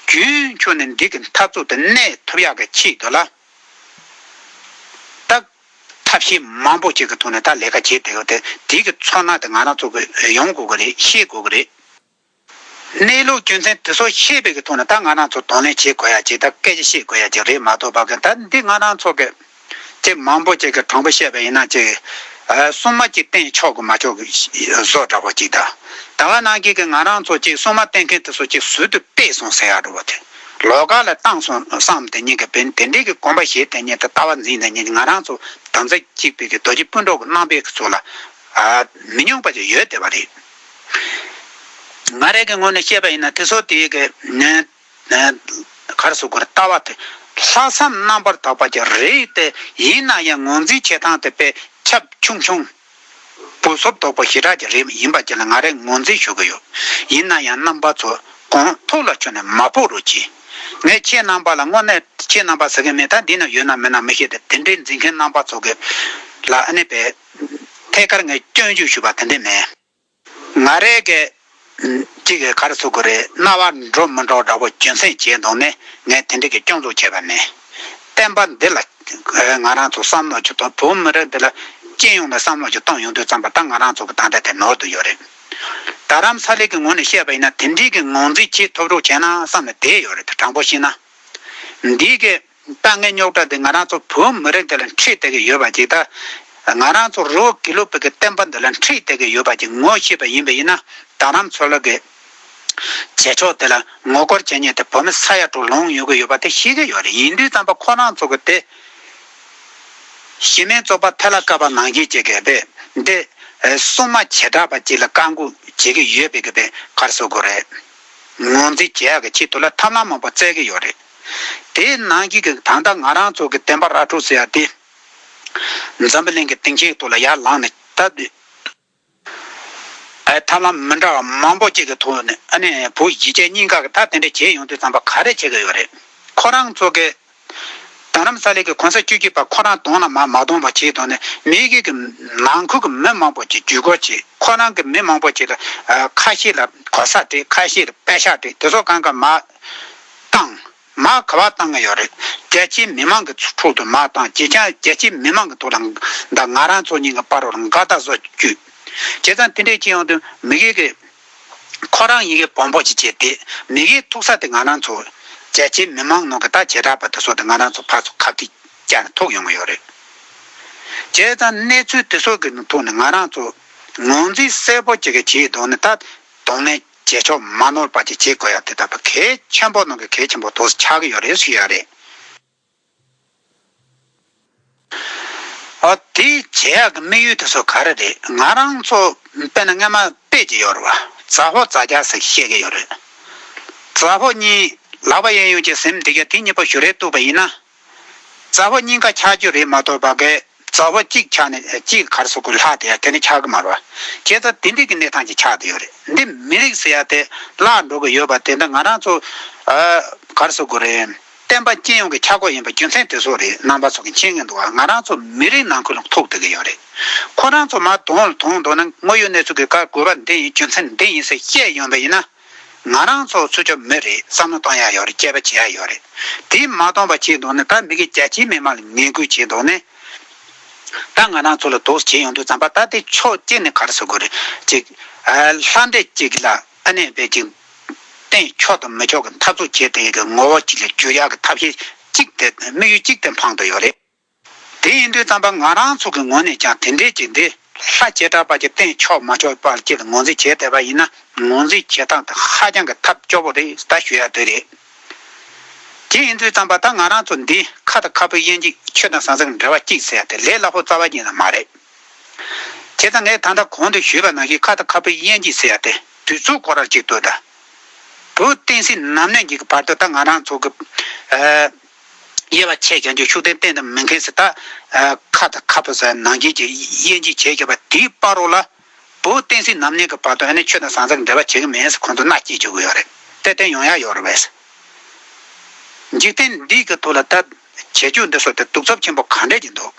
རྒྱུན་འཁྱོངས་ནས་འདི་གི་མཐར་ཐུག་ཏུ་གནས་ཐུབ་ཡག་གི་ཆེད་དུ་ལ་དྭགས་ཐབས་ཤེས་མང་པོ་གཅིག་གི་ཐོག་ནས་ད་ལས་ཀ་བྱེད་བསྡད་ཡོད་དེ་དེ་གི་ཚོར་སྣང་དེ་ང་རང་ཚོ་གིས་ཡོང་དགོས་ཀྱི་རེད་ཤེས་དགོས་ཀྱི་རེད། གནས་ལུགས་རྒྱུ་མཚན་དེ་ཚོ་ཤེས་པའི་གི་ཐོག་ནས་ད་ང་རང་ཚོ་དང་ལེན་བྱེད་དགོས་ཡ་ཅིག་ད་སྐད་ཆ་བཤད་དགོས་ཡ་ཅིག་རེད་མ་གཏོགས་པ་གི་ད་འདི་ང་རང་ཚོ་གི་ཅེས་མང་པོ་ཅིག་གི་དྲང་པོ་བཤད་པ་ཡིན་ན་ཅིག་སྲུང་མ་ཅིག་བསྟེན་ཆོག་གི་མ་ཆོག་གི་བཟོ་འདྲ་བ་ཅིག་ད་ད་ག་ནང་གི་གི་ང་རང་ཚོ་ཅིག་སྲུང་མ་བསྟེན་མཁན་དེ་ཚོ་ཅིག་ཟུར་དུ་སྤེལ་སོང་ཟེར་ཡག་འགྲོ་བ་དེ། ལོ་ག་ལ་བཏང་སོང་བསམ་དེ་ཉིད་ཀྱི་བུ་དེ་འདྲས་ཀྱི་གོམ་པ་བཞེས་དེ་ཉིད་དུ་ལྟ་བ་འཛིན་དེ་ཉིད་ང་རང་ཚོ་དམ་རྫས་གཅིག་པུས་ཀྱི་རྡོ་རྗེ་སྤུན་གྲོགས་ཀྱི་རྣམ་པས་ཀྱི་ཚོ་ལ། མི་སྙོང་པ་ཅིག་ཡོད་དེ་བ་རེད། ང་རེ་ཀྱི་ངོས་ནས་བཤད་པ་ཡིན་ན་དེ་ཚོ་དེ་ཀྱི། གར་སོ་གོར་ལྟ་བ་དེ་ལྷག་བསམ་རྣམ་པར་དག་པ་ཅིག་རེད་དེ་ཡིན་ན་ཡང་ངོས་འཛིན་བྱེད་སྟངས་དེ་དཔེ་ཁྱབ་ཆུང་ཆུང། སྐུ་སོབ་དོག་པོ་ཞེ་དྲག་གི་རིགས་ཡིན་པ་བཅས་ལ་ང་རེ་ངོ་འཛིན་ཞུ་གི་ཡོད། ཡིན་ན་ཡང་རྣམ་པ་ཚོ་གོང་ཐུགས་ལ་ཆོད་ནས་མ་ཕོག་རོགས་གྱིས། ངས་ཁྱེད་རྣམ་པ་ལ་དངོས་གནས་ཁྱེད་རྣམ་པ་ཟེར་མཁན་མེད་ད་འདི་ན་ཡོད་ན་མེད་ན་མི་ཤེས་ཏེ་དེ་འདྲའི་འཛིན་མཁན་རྣམ་པ་ཚོ་གི་ལ་ཨ་ནེ་བས། ཐད་ཀར་ངས་སྐྱོན་བརྗོད་ཞུས་པ་དེ་འདྲས་མེད། ང་རེ་འགས། གཅིག་གིས་གར་ཚུགས་ཀྱི་རེད་རྣ་བར་འགྲོ་མི་འགྲོ་འདྲ་པོ་རྒྱུ་མཚན་བྱས་འདུག་ནས་ངས་དེ་འགྲིག་གི་སྐྱོང་འཛུགས་བྱས་པ་ནས། བསྟན་པ་འདི་ལ། ང་རང་ཚོ་བསམ་བློ་གཅིག་དང་བོད་མི་རིགས་འདི་ལ། སྤྱི་ཡོངས་ནས་བསམ་བློ་གཅིག་གཏོང་ཡོང་དུས་བརྩམས་པ་ད་ང་རང་ཚོ་གི་ད་ལྟ་དེ་ནོར་དུ་ཡོད་རེད། རྡ་རམ་ས་ལའི་གི་ངོས་ནས་བཤད་པ་ཡིན་ན་དེ་འགྲིག་གི་ངང་འཛིན་བྱེད་ཐུབ་རོགས་བྱས་ན་བསམ་ནས་བསྡད་ཡོད་རེད་དྲང་པོ་བཤད་ན། འདི་གས། དཀའ་ངལ་རྙོག་དྲ་དེ་ང་རང་ཚོ་བོད་མི་རིགས་འདི་ལ་འཁྲིད་བསྡད་ཀྱི་ཡོད་པ་ཅིག་དང། ང་རང་ཚོ་རི་བོ་དགེ་ལུགས་བོད་ཀྱི་བསྟན་པ་འདི་ལ་འཁྲིད་བསྡད་ཀྱི་ཡོད་པ་ཅིག་ངོ་ཤེས་པ་ཡིན་པས་ཡིན་ན་རྡ་རམ་མཚོ་ལགས་ཀྱིས་བྱེད་ཕྱོགས་དེ་ལ་ངོ་རྒོལ་བྱེད་ཉེས་དེ་བོད་མི་ས་ཡ་དྲུག་ལོངས་ཡོང་གི་ཡོད་པ་དེ་ཤེས་ཀྱི་ཡོད་རེད་ཡིན་དུས་རྩམ་པ་ཁོ་རང་ཚོ་གི་དེ་གཞི་མེད་བཙོག་པ་ཐལ་ལ་བཀབ་པ་ནང་བཞིན་བྱེད་ཀྱི་བས་འདི་སྲུང་མ་བྱེ་བྲག་པ་ཅིག་ལ་བཀའ་འགུག་བྱེད་ཀྱི་ཡོད་པས་ཀྱི་བས་ཁར་བཟོ་དགོས་རེད། ངོ་འཛིན་བྱས་ཀྱི་ཆེད་དུ་ལ་ཐབས་ལམ་མང་པོ་བཙལ་གྱི་ཡོད་རེད། དེའི་ནང་གི་གི་ད་ལྟ་ང་རང་ཚོ་གི་བསྟན་པ་ར་འཕྲོད་ཟེར་བ་དེ། འཛམ་བུ་གླིང་གི་སྟེང་ཆེན་ཐོག་ལ་ཡར་ལངས་ནས་སྟབས་བདེ། ཨའི་ཐབས་ལམ་མི་འདྲ་བ་མང་པོ་བཅས་ཀྱི་ཐོག་ནས་ཨ་ནེ་བོད་གཞིས་བྱེས་གཉིས་ཀ་གི་ད་དེ་འདྲ་བྱེད་ཡོང་དུས་ཚང་པ་ག་རེ་བྱེད་ཀྱི་ཡོད་རེད། ཁོ་རང་ཚོ་གི་རྡ་རམ་ས་ལའི་གི་གོང་ས་བཅུ་གཅིག་པ་ཁོ་རང་གདོང་ལ་མ་མ་གཏོང་པ་བྱས་དོན་ནི་མི་རྒྱུད་ཀྱི་ནང་ཁུལ་གྱི་མི་མང་པོ་ཅིག་བརྒྱུད་སྐོར་བྱས་ཁོ་རང་གི་མི་མང་པོ་ཅིག་ལ་ཁ་ཤས་ལ་གོ་ས་སྤྲད་ཁ་ཤས་ལ་པད་ཤག་སྤྲད་དེ་ཚོ་གང་ག་མ་བཏང་མ་ག་བ་བཏང་གི་ཡོད་རེད་རྒྱལ་སྤྱིའི་མི་མང་གི་ཐྲོག་ཏུ་མ་བཏང་བྱས་ཀྱང་རྒྱལ་སྤྱིའི་མི་མང་གི་ཐོག་ལ་འདའ་ང་རང་ཚོ་གཉིས་ཀྱི་པར་རོ་འགའ་ད་གཟོད་བརྒྱུད་བྱས་ཙང་དེ་འདྲའི་ཅི་ཡང་དུ་མི་རྒྱུད་ཀྱི་ཁོ་རང་ཡི་གེ་བོང་བུ་ཅིག་བྱས་ཏེ། མི་གིའི་ཐུག་ས་དེ་ང་རང་ཚོ། རྒྱལ་སྤྱིའི་མི་མང་ནང་གི་དག་བྱེད་གྲགས་པ་དེ་སོགས་དེ་ང་རང་ཚོ་ཕར་ཚོ་ཁ་ཐིག་བཀྱག་ནས་ཐུག་ཡོང་གི་ཡོད་རེད། བྱས་ཙང་གནས་ཚུལ་དེ་སོགས་ཀྱི་ཐོག་ནས་ང་རང་ཚོ། ངོས་འཛིན་གསལ་པོ་ཅིག་གིས་བྱས་དོན་ནི་ད་དུང་ནས་རྗེས་ཕྱོགས་མ་ནོར་བ་ཅིག་བྱེད་དགོས་ཡ་དེ་ལྟ་བུ་གལ་ཆེན་པོ་ནང་གི་གལ་ཆེན་པོ་དོགས་སུ་ཆགས་ཀྱི་ཡོད་རེད་ཟེར་གྱི་ཡོད་རེད། ཨོ་དེ་རྗེ་ཡག་གི་དམིགས་ཡུལ་དེ་ཚོ་ག་རེ་རེད་ང་རང་ཚོ་དཔེ་ན་རྔན་མ་དཔེ་ཅིག་ཡོད་རེད་བ་རྫ་ཕོ་རྫ་རྒྱ་ཟེར་བཤད་ཀྱི་ཡོད་རེད་རྫ་ཕོ་གཉིས་ལག་པ་གཡས་གཡོན་གྱི་གཟེམ་འདེགས་རྒྱ་དེ་གཉིས་པོ་ཞུ་རེ་བཏུབ་པ་ཡིན་ན་རྫ་ཕོ་གཉིས་ཀ་འཁྱག་རྒྱུ་རེད་མ་གཏོགས་བ་གས། རྩ་བ་གཅིག་ཆགས་ནས་གཅིག་གར་སོགས་ཀྱི་ལྷག་དེ་ཡང་དེ་ནི་ཆགས་ཀྱི་མ་རོ། ཁྱེད་ལྟར་དེ་འདྲིས་ཀྱི་གནས་སྟངས་ཀྱི་ཆགས་དེ་ཡོད་རེད་འདི་མི་རིགས་ཟེར་ཡ་དེ་བརླག་འགྲོ་གི་ཡོད་པ་དེ་འདྲ་ང་རང་ཚོ་གར་སོགས་ཀྱི་རེད། བསྟན་པ་སྤྱི་ཡོངས་ཀྱི་ཆགས་སྒོ་ཡིན་པ་རྒྱུ་མཚན་དེ་སོགས་རེད་ནང་པ་ཚོ་གི་མཁྱེན་ངེས་འདུག་ཨ་ང་རང་ཚོ་མི་རིགས་ནང་ཁུལ་ལ་ཐུག་བསྡད་ཀྱི་ཡོད་རེད། ཁོ་རང་ཚོ་མ་དོང་ལ་དོང་འདོག་ན་དངོས་ཡོད་གནས་ཚུལ་གྱི་བཀའ་བསྒོས་པ་འདི་ཡིན་རྒྱུ་མཚན་འདི་ཡིན་ཟེར་བཤད་ཡོང་བས་ཡིན་ན། ང་རང་ཚོ་ཚུར་ཆབ་མི་རེད་བསམ་བློ་གཏོང་ཡ་ཡོད་རེད་དཔྱད་པ་བྱེད་ཡ་ཡོད་རེད་དེ་མ་གཏོང་པ་བྱས་འདུག་ན་ད་མི་གི་རྒྱ་ཁྱི་མི་མང་ལ་ངན་སྐུལ་བྱས་འདུག་ནས་ད་ང་རང་ཚོ་ལ་དོགས་བྱེད་ཡོང་དུས་ཙམ་པ་ད་དེ་ཕྱོགས་བསྐྱེལ་ནས་གར་སོ་གོ་རེད་ཅིག་ལྷ་འདྲེ་ཅིག་ལ་ཨ་ནེ་བས་ཅིག་བསྟན་ཆོག་དང་མི་ཆོག་གི་འཐབ་རྩོད་བྱེད་དེ་ཡི་གི་ངོ་བོ་གཅིག་ལ་འགྱུར་ཡ་གི་ཐབས་ཤེས་གཅིག་དེ་དམིགས་ཡུལ་གཅིག་དེ་འཕང་དུ་ཡོད་རེད། དེ་ཡིན་དུས་བརྩམས་པ་ང་རང་ཚོ་གི་ངོས་ནས་ཀྱང་དེ་འབྲེལ་གྱི་འདི་ལྷ་བྱེ་བྲག་པ་གྱི་སྟེང་ཕྱོགས་མ་ཕྱོགས་པར་ཅིར་ངོས་འཛིན་བྱེད་བསྡད་པ་ཡིན་ན་ངོས་འཛིན་བྱེད་སྟངས་དེ་ཧ་ཅང་གི་ཐབས་སྐྱོ་བོ་རེད་ད་ཞུ་ཡག་དོད་རེད། དེ་ཡིན་དུས་བརྩམས་པ་ད་ང་རང་ཚོ་འདི་ཁ་དང་ཁ་སྤུ་དབྱེ་འཇིག་ཆོས་དང་ཟང་ཟིང་འབྲེལ་བ་གཅིག་ཟེར་དེ་ལས་སླ་བོ་རྩ་བ་ཡིན་ན་མ་རེད། བྱས་ཙང་ངས་ད་ལྟ་གོང་དུ་ཞུས་པ་ནང་བཞིན་ཁ་དང་ཁ་སྤུ་དབྱེ་འཇིག་ཟེར་དེ་དུས་ཚོད་ཁོ་རར་ཅིག་ལྟོས་དང། བོུ་སྟེང་སྲིད་ནམ་གནས་འཇིག་གི་བར་དུ་ད་ང་རང་ཚོ་གི། དབྱེ་བ་ཕྱེད་ཀྱང་ཆོས་ཤུགས་ལྡན་བསྟན་དང་མི་མཁན་སྲིད་སྟག། ཁ་དང་ཁ་ཕོ་སྲིད་ནང་རྒྱལ་གྱི་དབྱེ་འབྱེད་བྱེད་དགོས་པ་དེའི་དཔའ་རོགས་ལ། བོད་བསྟན་སྲིད་ནམ་གནས་ཀྱི་བར་དུ་ཨ་ནེ་ཆོས་དང་ཟང་ཟིང་གི་འབྲེལ་བ་བྱེད་ཀྱི་མེད་ས་ཁོང་ཚོ་མནའ་སྐྱེལ་བྱེད་དགོས་ཡོད་རེད་དེ་བསྟན་ཡོང་ཡག་ཡོད་རེད་བས་སོ། འཇིག་རྟེན་འདི་གི་ཐུགས་ལ་ལྟ། བྱེད་སྤྱོད་འདི་སོགས་དེ་གདུག་རྩུབ་ཆེན་པོ་ག་འདྲས་ཀྱི་འདུག།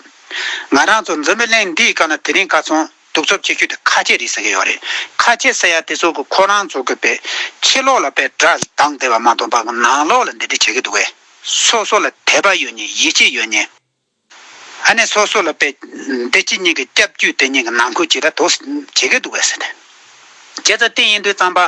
ང་རང་ཚོ་འཛིན་པའི་གླིང་འདིའི་སྐབས་ན་དེ་རིང་བཀའ་ཚོང། གདུག་རྩུབ་ཆེ་ཤོས་དེ་ཁ་ཆད་རེད་ཟེར་གྱི་ཡོད་རེད། ཁ་ཆད་ཟེར་ཡ་དེ་ཚོ་གི་ཁོ་རང་ཚོ་གི་པའི་ཕྱི་ལོག་ལ་པའི་སྒྲ་གདངས་དེ་བ་མ་གཏོགས་པ་གི་ནང་ལོག་ལ་འདི་འདྲི་བྱེད་ཀྱི་འདུག་བས། སོ་སོ་ལ་དད་པ་ཡོད་ནི་ཡིད་ཆེས་ཡོད་ནི། ཨ་ནེ་སོ་སོ་ལ་པའི་འདི་ཕྱི་གཉིས་ཀྱི་སྐྱབས་རྒྱུད་དེ་གཉིས་ཀྱི་ནང་ཁུལ་ཇི་ལྟར་དོགས་བྱེད་ཀྱི་འདུག་བས། བྱས་ཙང་དེ་ཡིན་དུས་ཙང་པ་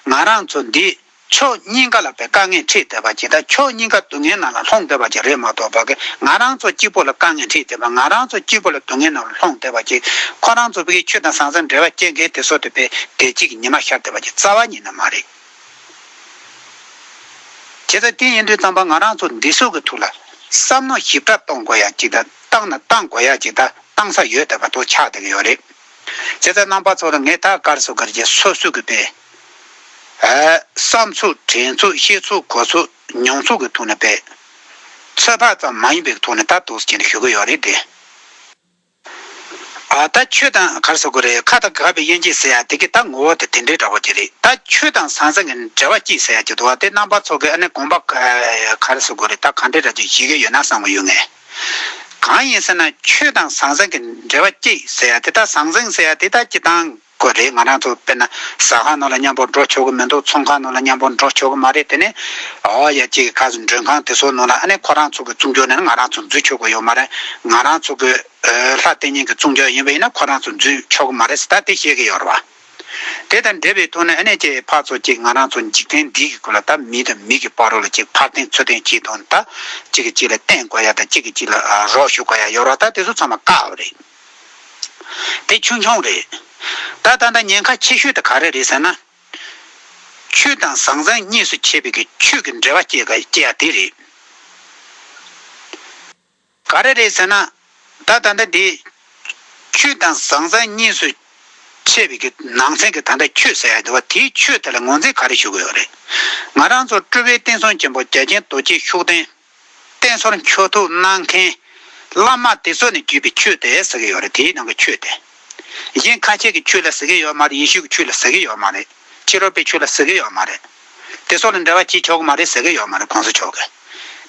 ང་རང་ཚོ་འདི་ཕྱོགས་གཉིས་ཀ་ལ་བའི་དཀའ་ངལ་འཕྲད་འདོད་པ་ཇི་ལྟར་ཕྱོགས་གཉིས་ཀ་སྡུག་བསྔལ་ནང་ལ་ལྷོང་འདོད་པ་ཅིག་རེད་མ་གཏོགས་བོད་སྐད་ང་རང་ཚོ་གཅིག་པོ་ལ་དཀའ་ངལ་འཕྲད་འདོད་པ་ང་རང་ཚོ་གཅིག་པོ་ལ་སྡུག་བསྔལ་ནང་ལ་ལྷོང་འདོད་པ་ཅིག་ཁོ་རང་ཚོ་བོད་ཀྱི་ཆོས་དང་བཟང་ས་འབྲེལ་བ་བཅད་མཁན་དེ་ཚོ་དེ་བོད་བདེ་སྐྱིད་ཀྱི་ཉི་མ་ཤར་འདོད་པ་ཅིག་རྩ་བ་ཉིད་ནས་མ་རེད། དེ་ཚོ་དེ་ཡིན་དུས་རྩམ་པ་ང་རང་ཚོ་འདི་ཚོ་གི་ཐུགས་ལ་བསམ་མནོ་ཞིབ་ཕྲ་གཏོང་དགོས་ཡ་ཅིག་དང་བཏང་ན་བཏང་དགོས་ཡ་ཅིག་དང་བཏང་ས་ཡོད་འདོད་པ་དོ་ཆགས་འདེགས་ཡོད་རེད། དེ་ཚོ་རྣམ་པ་ཚོ་ལ་ངས་ད་བཀར་སོ་གར་གྱིས་སོ་སུ་གི་བོད། བསམ་ཚུལ་དྲན་ཚུལ་ཤེས་ཚུལ་གོ་ཚུལ་མྱོང་ཚུལ་གྱི་ཐོག་ནས་སྤེལ། ཚོད་དཔག་ཙམ་མ་ཡིན་པའི་ཐོག་ནས་ད་དུ་ཟེར་གྱིན་ཞུ་གི་ཡོད་རེད་དེ། ད་ཆོས་དང་གར་ཟེར་གི་རེད་ཁ་ད་ག་པའི་དབྱེ་འབྱེད་ཟེར་ཡག་དེ་གི་ད་ངོ་བོ་དེ་དེ་འདྲའི་འདྲ་བོ་ཅིག་རེད་ད་ཆོས་དང་ཟང་ཟིང་གི་འབྲེལ་བ་ཅིག་ཟེར་ཡག་ཅིག་འདུག་བ་དེ་རྣམ་པ་ཚོ་གི་ཨ་ནི་དགོངས་པ་གར་ཟེར་གི་རེད་ད་གང་འདྲའི་ར་ཅིག་བྱེད་ཀྱི་ཡོད་ན་བསམ་གི་ཡོད་ངེས། གང་ཡིན་ཟེར་ན་ཆོས་དང་ཟང་ཟིང་གི་འབྲེལ་བ་ཅིག་ཟེར་ཡག་དེ་ད་ཟང་ཟིང་ཟེར་ཡག་དེ་ད་ཅི་དང། གོ་རེད་ང་རང་ཚོ་དཔེར་ན་ཟ་ཁང་ནང་ལ་མཉམ་པོར་འགྲོ་ཆོག་གི་མི་འདུག་ཚོང་ཁང་ནང་ལ་མཉམ་པོར་འགྲོ་ཆོག་གི་མ་རེད་དེ་ནས་ཨོ་ཡ་ཅིག་ག་ཟེར་མགྲོན་ཁང་དེ་ཚོ་ནང་ལ་ཨ་ནེ་ཁོ་རང་ཚོ་གི་བཙུན་རྒྱུག་ནས་ང་རང་ཚོ་འཛུལ་ཆོག་གི་ཡོད་མ་རེད་ང་རང་ཚོ་གི་ལྷ་ལྟེ་གཉན་གི་བཙུན་རྒྱུག་ཡིན་པ་ཡིན་ན་ཁོ་རང་ཚོ་འཛུལ་ཆོག་གི་མ་རེད་ཟེར་ད་དེ་བཤད་གི་ཡོད་རེད་བ། དེ་དང་འབྲེལ་བའི་ཐོག་ནས་ཨ་ནེ་ཁྱེད་ཕར་ཚོ་ཅིག་ང་རང་ཚོ་འཇིག་རྟེན་འདི་གི་སྐོར་ལ་ད་མི་དང་མི་གི་བར་རོ་ལ་ཅིག་ཕར་འཐེན་ཚུར་འཐེན་བྱས་དོན་ད་གཅིག་གི་གཅིག་ལ་བརྟེན་དགོས་ཡ་ད་གཅིག་གི་གཅིག་ལ་རོགས་ཞུ་དགོས་ཡ་ཡོད་རེད་ད་དེ་ཚོ་ཚང་མ་བཀག་རེད། དེ་ཆུང་ཆུང་རེད། ད་ད་ལྟ་ཉེན་ཁ་ཆེ་ཤོས་དེ་ག་རེ་རེད་ཟེར་ན། ཆོས་དང་བཟང་བཟང་གཉིས་སུ་ཕྱེ་བའི་གི་ཆོས་ཀྱི་འབྲེལ་བ་སྐྱེ་ཡ་དེ་རེད། ག་རེ་རེད་ཟེར་ན། ད་ད་ལྟ་དེ། ཆོས་དང་བཟང་བཟང་གཉིས་སུ་ཕྱེ་བའི་གི་ནང་ཚན་གྱི་ད་ལྟ་ཆོས་ཟེར་ཡ་དེ་བ་དེའི་ཆོས་དེ་ལ་ངོས་འཛིན་ག་རེ་ཞུ་གི་ཡོད་རེད། ང་རང་ཚོ་སྤྲུལ་བའི་བསྟན་སྲུང་ཆེན་པོ་རྒྱ་ཆེན་རྡོ་རྗེ་ཤུགས་ལྡན། བསྟན་ཟོར་མཆོད་ཐུགས་གནང་མཁན། བླ་མ་དེ་ཚོ་ནི་བརྒྱུད་པའི་ཆོས་དེ་ཟེར་གྱི་ཡོད་རེད་དེའི་ནང་གི་ཆོས་དེ། གཞན་ཁ་ཆེ་གི་ཆོས་ལ་ཟེར་གྱི་ཡོད་མ་རེད་ཡེ་ཤུ་གི་ཆོས་ལ་ཟེར་གྱི་ཡོད་མ་རེད་ཕྱི་རོལ་པའི་ཆོས་ལ་ཟེར་གྱི་ཡོད་མ་རེད། དེ་ཚོ་ལ་འབྲེལ་བ་བྱེད་ཆོག་གི་མ་རེད་ཟེར་གྱི་ཡོད་མ་རེད་གོང་ས་མཆོག་གིས།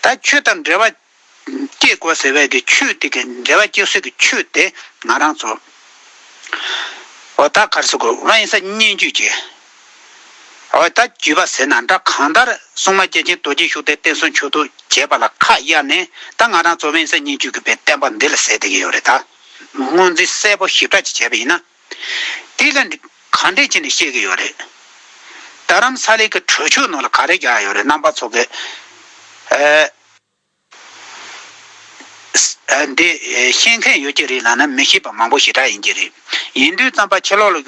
ད་ཆོས་དང་འབྲེལ་བ་བསྐྱེད་དགོས་ཟེར་བས་ཀྱི་ཆོས་དེ་གི་འབྲེལ་བ་བསྐྱེད་སྲོལ་གྱི་ཆོས་དེ་ང་རང་ཚོ། འོ་ད་གར་སོང་གི་དབེན་ས་སྙན་བརྒྱུད་ཀྱི། འོད་དང་བརྒྱུད་པ་ཟེར་ན་འདྲ་གང་ལྟར་སྲུང་མ་སྐྱེས་ཆེན་རྡོ་རྗེ་ཤུགས་ལྡན་བསྟན་སྲུང་མཆོད་བསྟོད་བྱས་པ་ལ་ཁ་གཡར་ནས་ད་ང་རང་ཚོ་དབེན་ས་ཉིད་བཅུ་དགུ་པའི་བསྟན་པ་འདི་ལ་ཟེར་བསྡད་ཀྱི་ཡོད་རེད་ད། སྔོན་རྩིས་གསལ་པོ་ཞིབ་ཕྲ་ཅིག་བྱས་པ་ཡིན་ན། དེ་ལ་གང་འགྲེལ་བྱས་ནས་བཤད་ཀྱི་ཡོད་རེད། རྡ་རམ་ས་ལའི་གི་གྲོས་ཆོད་ནང་ལ་ག་རེ་བཞག་ཡོད་རེད་རྣམ་པ་ཚོ་གི། འདི་ཤེས་མཁན་ཡོད་ཀྱི་རེད་ལབ་ན་མི་ཤེས་པ་མང་པོ་ཞེ་དྲག་ཡིན་གྱི་རེད། ཡིན་དུས་རྩམ་པ་ཕྱི་ལོག་ལ།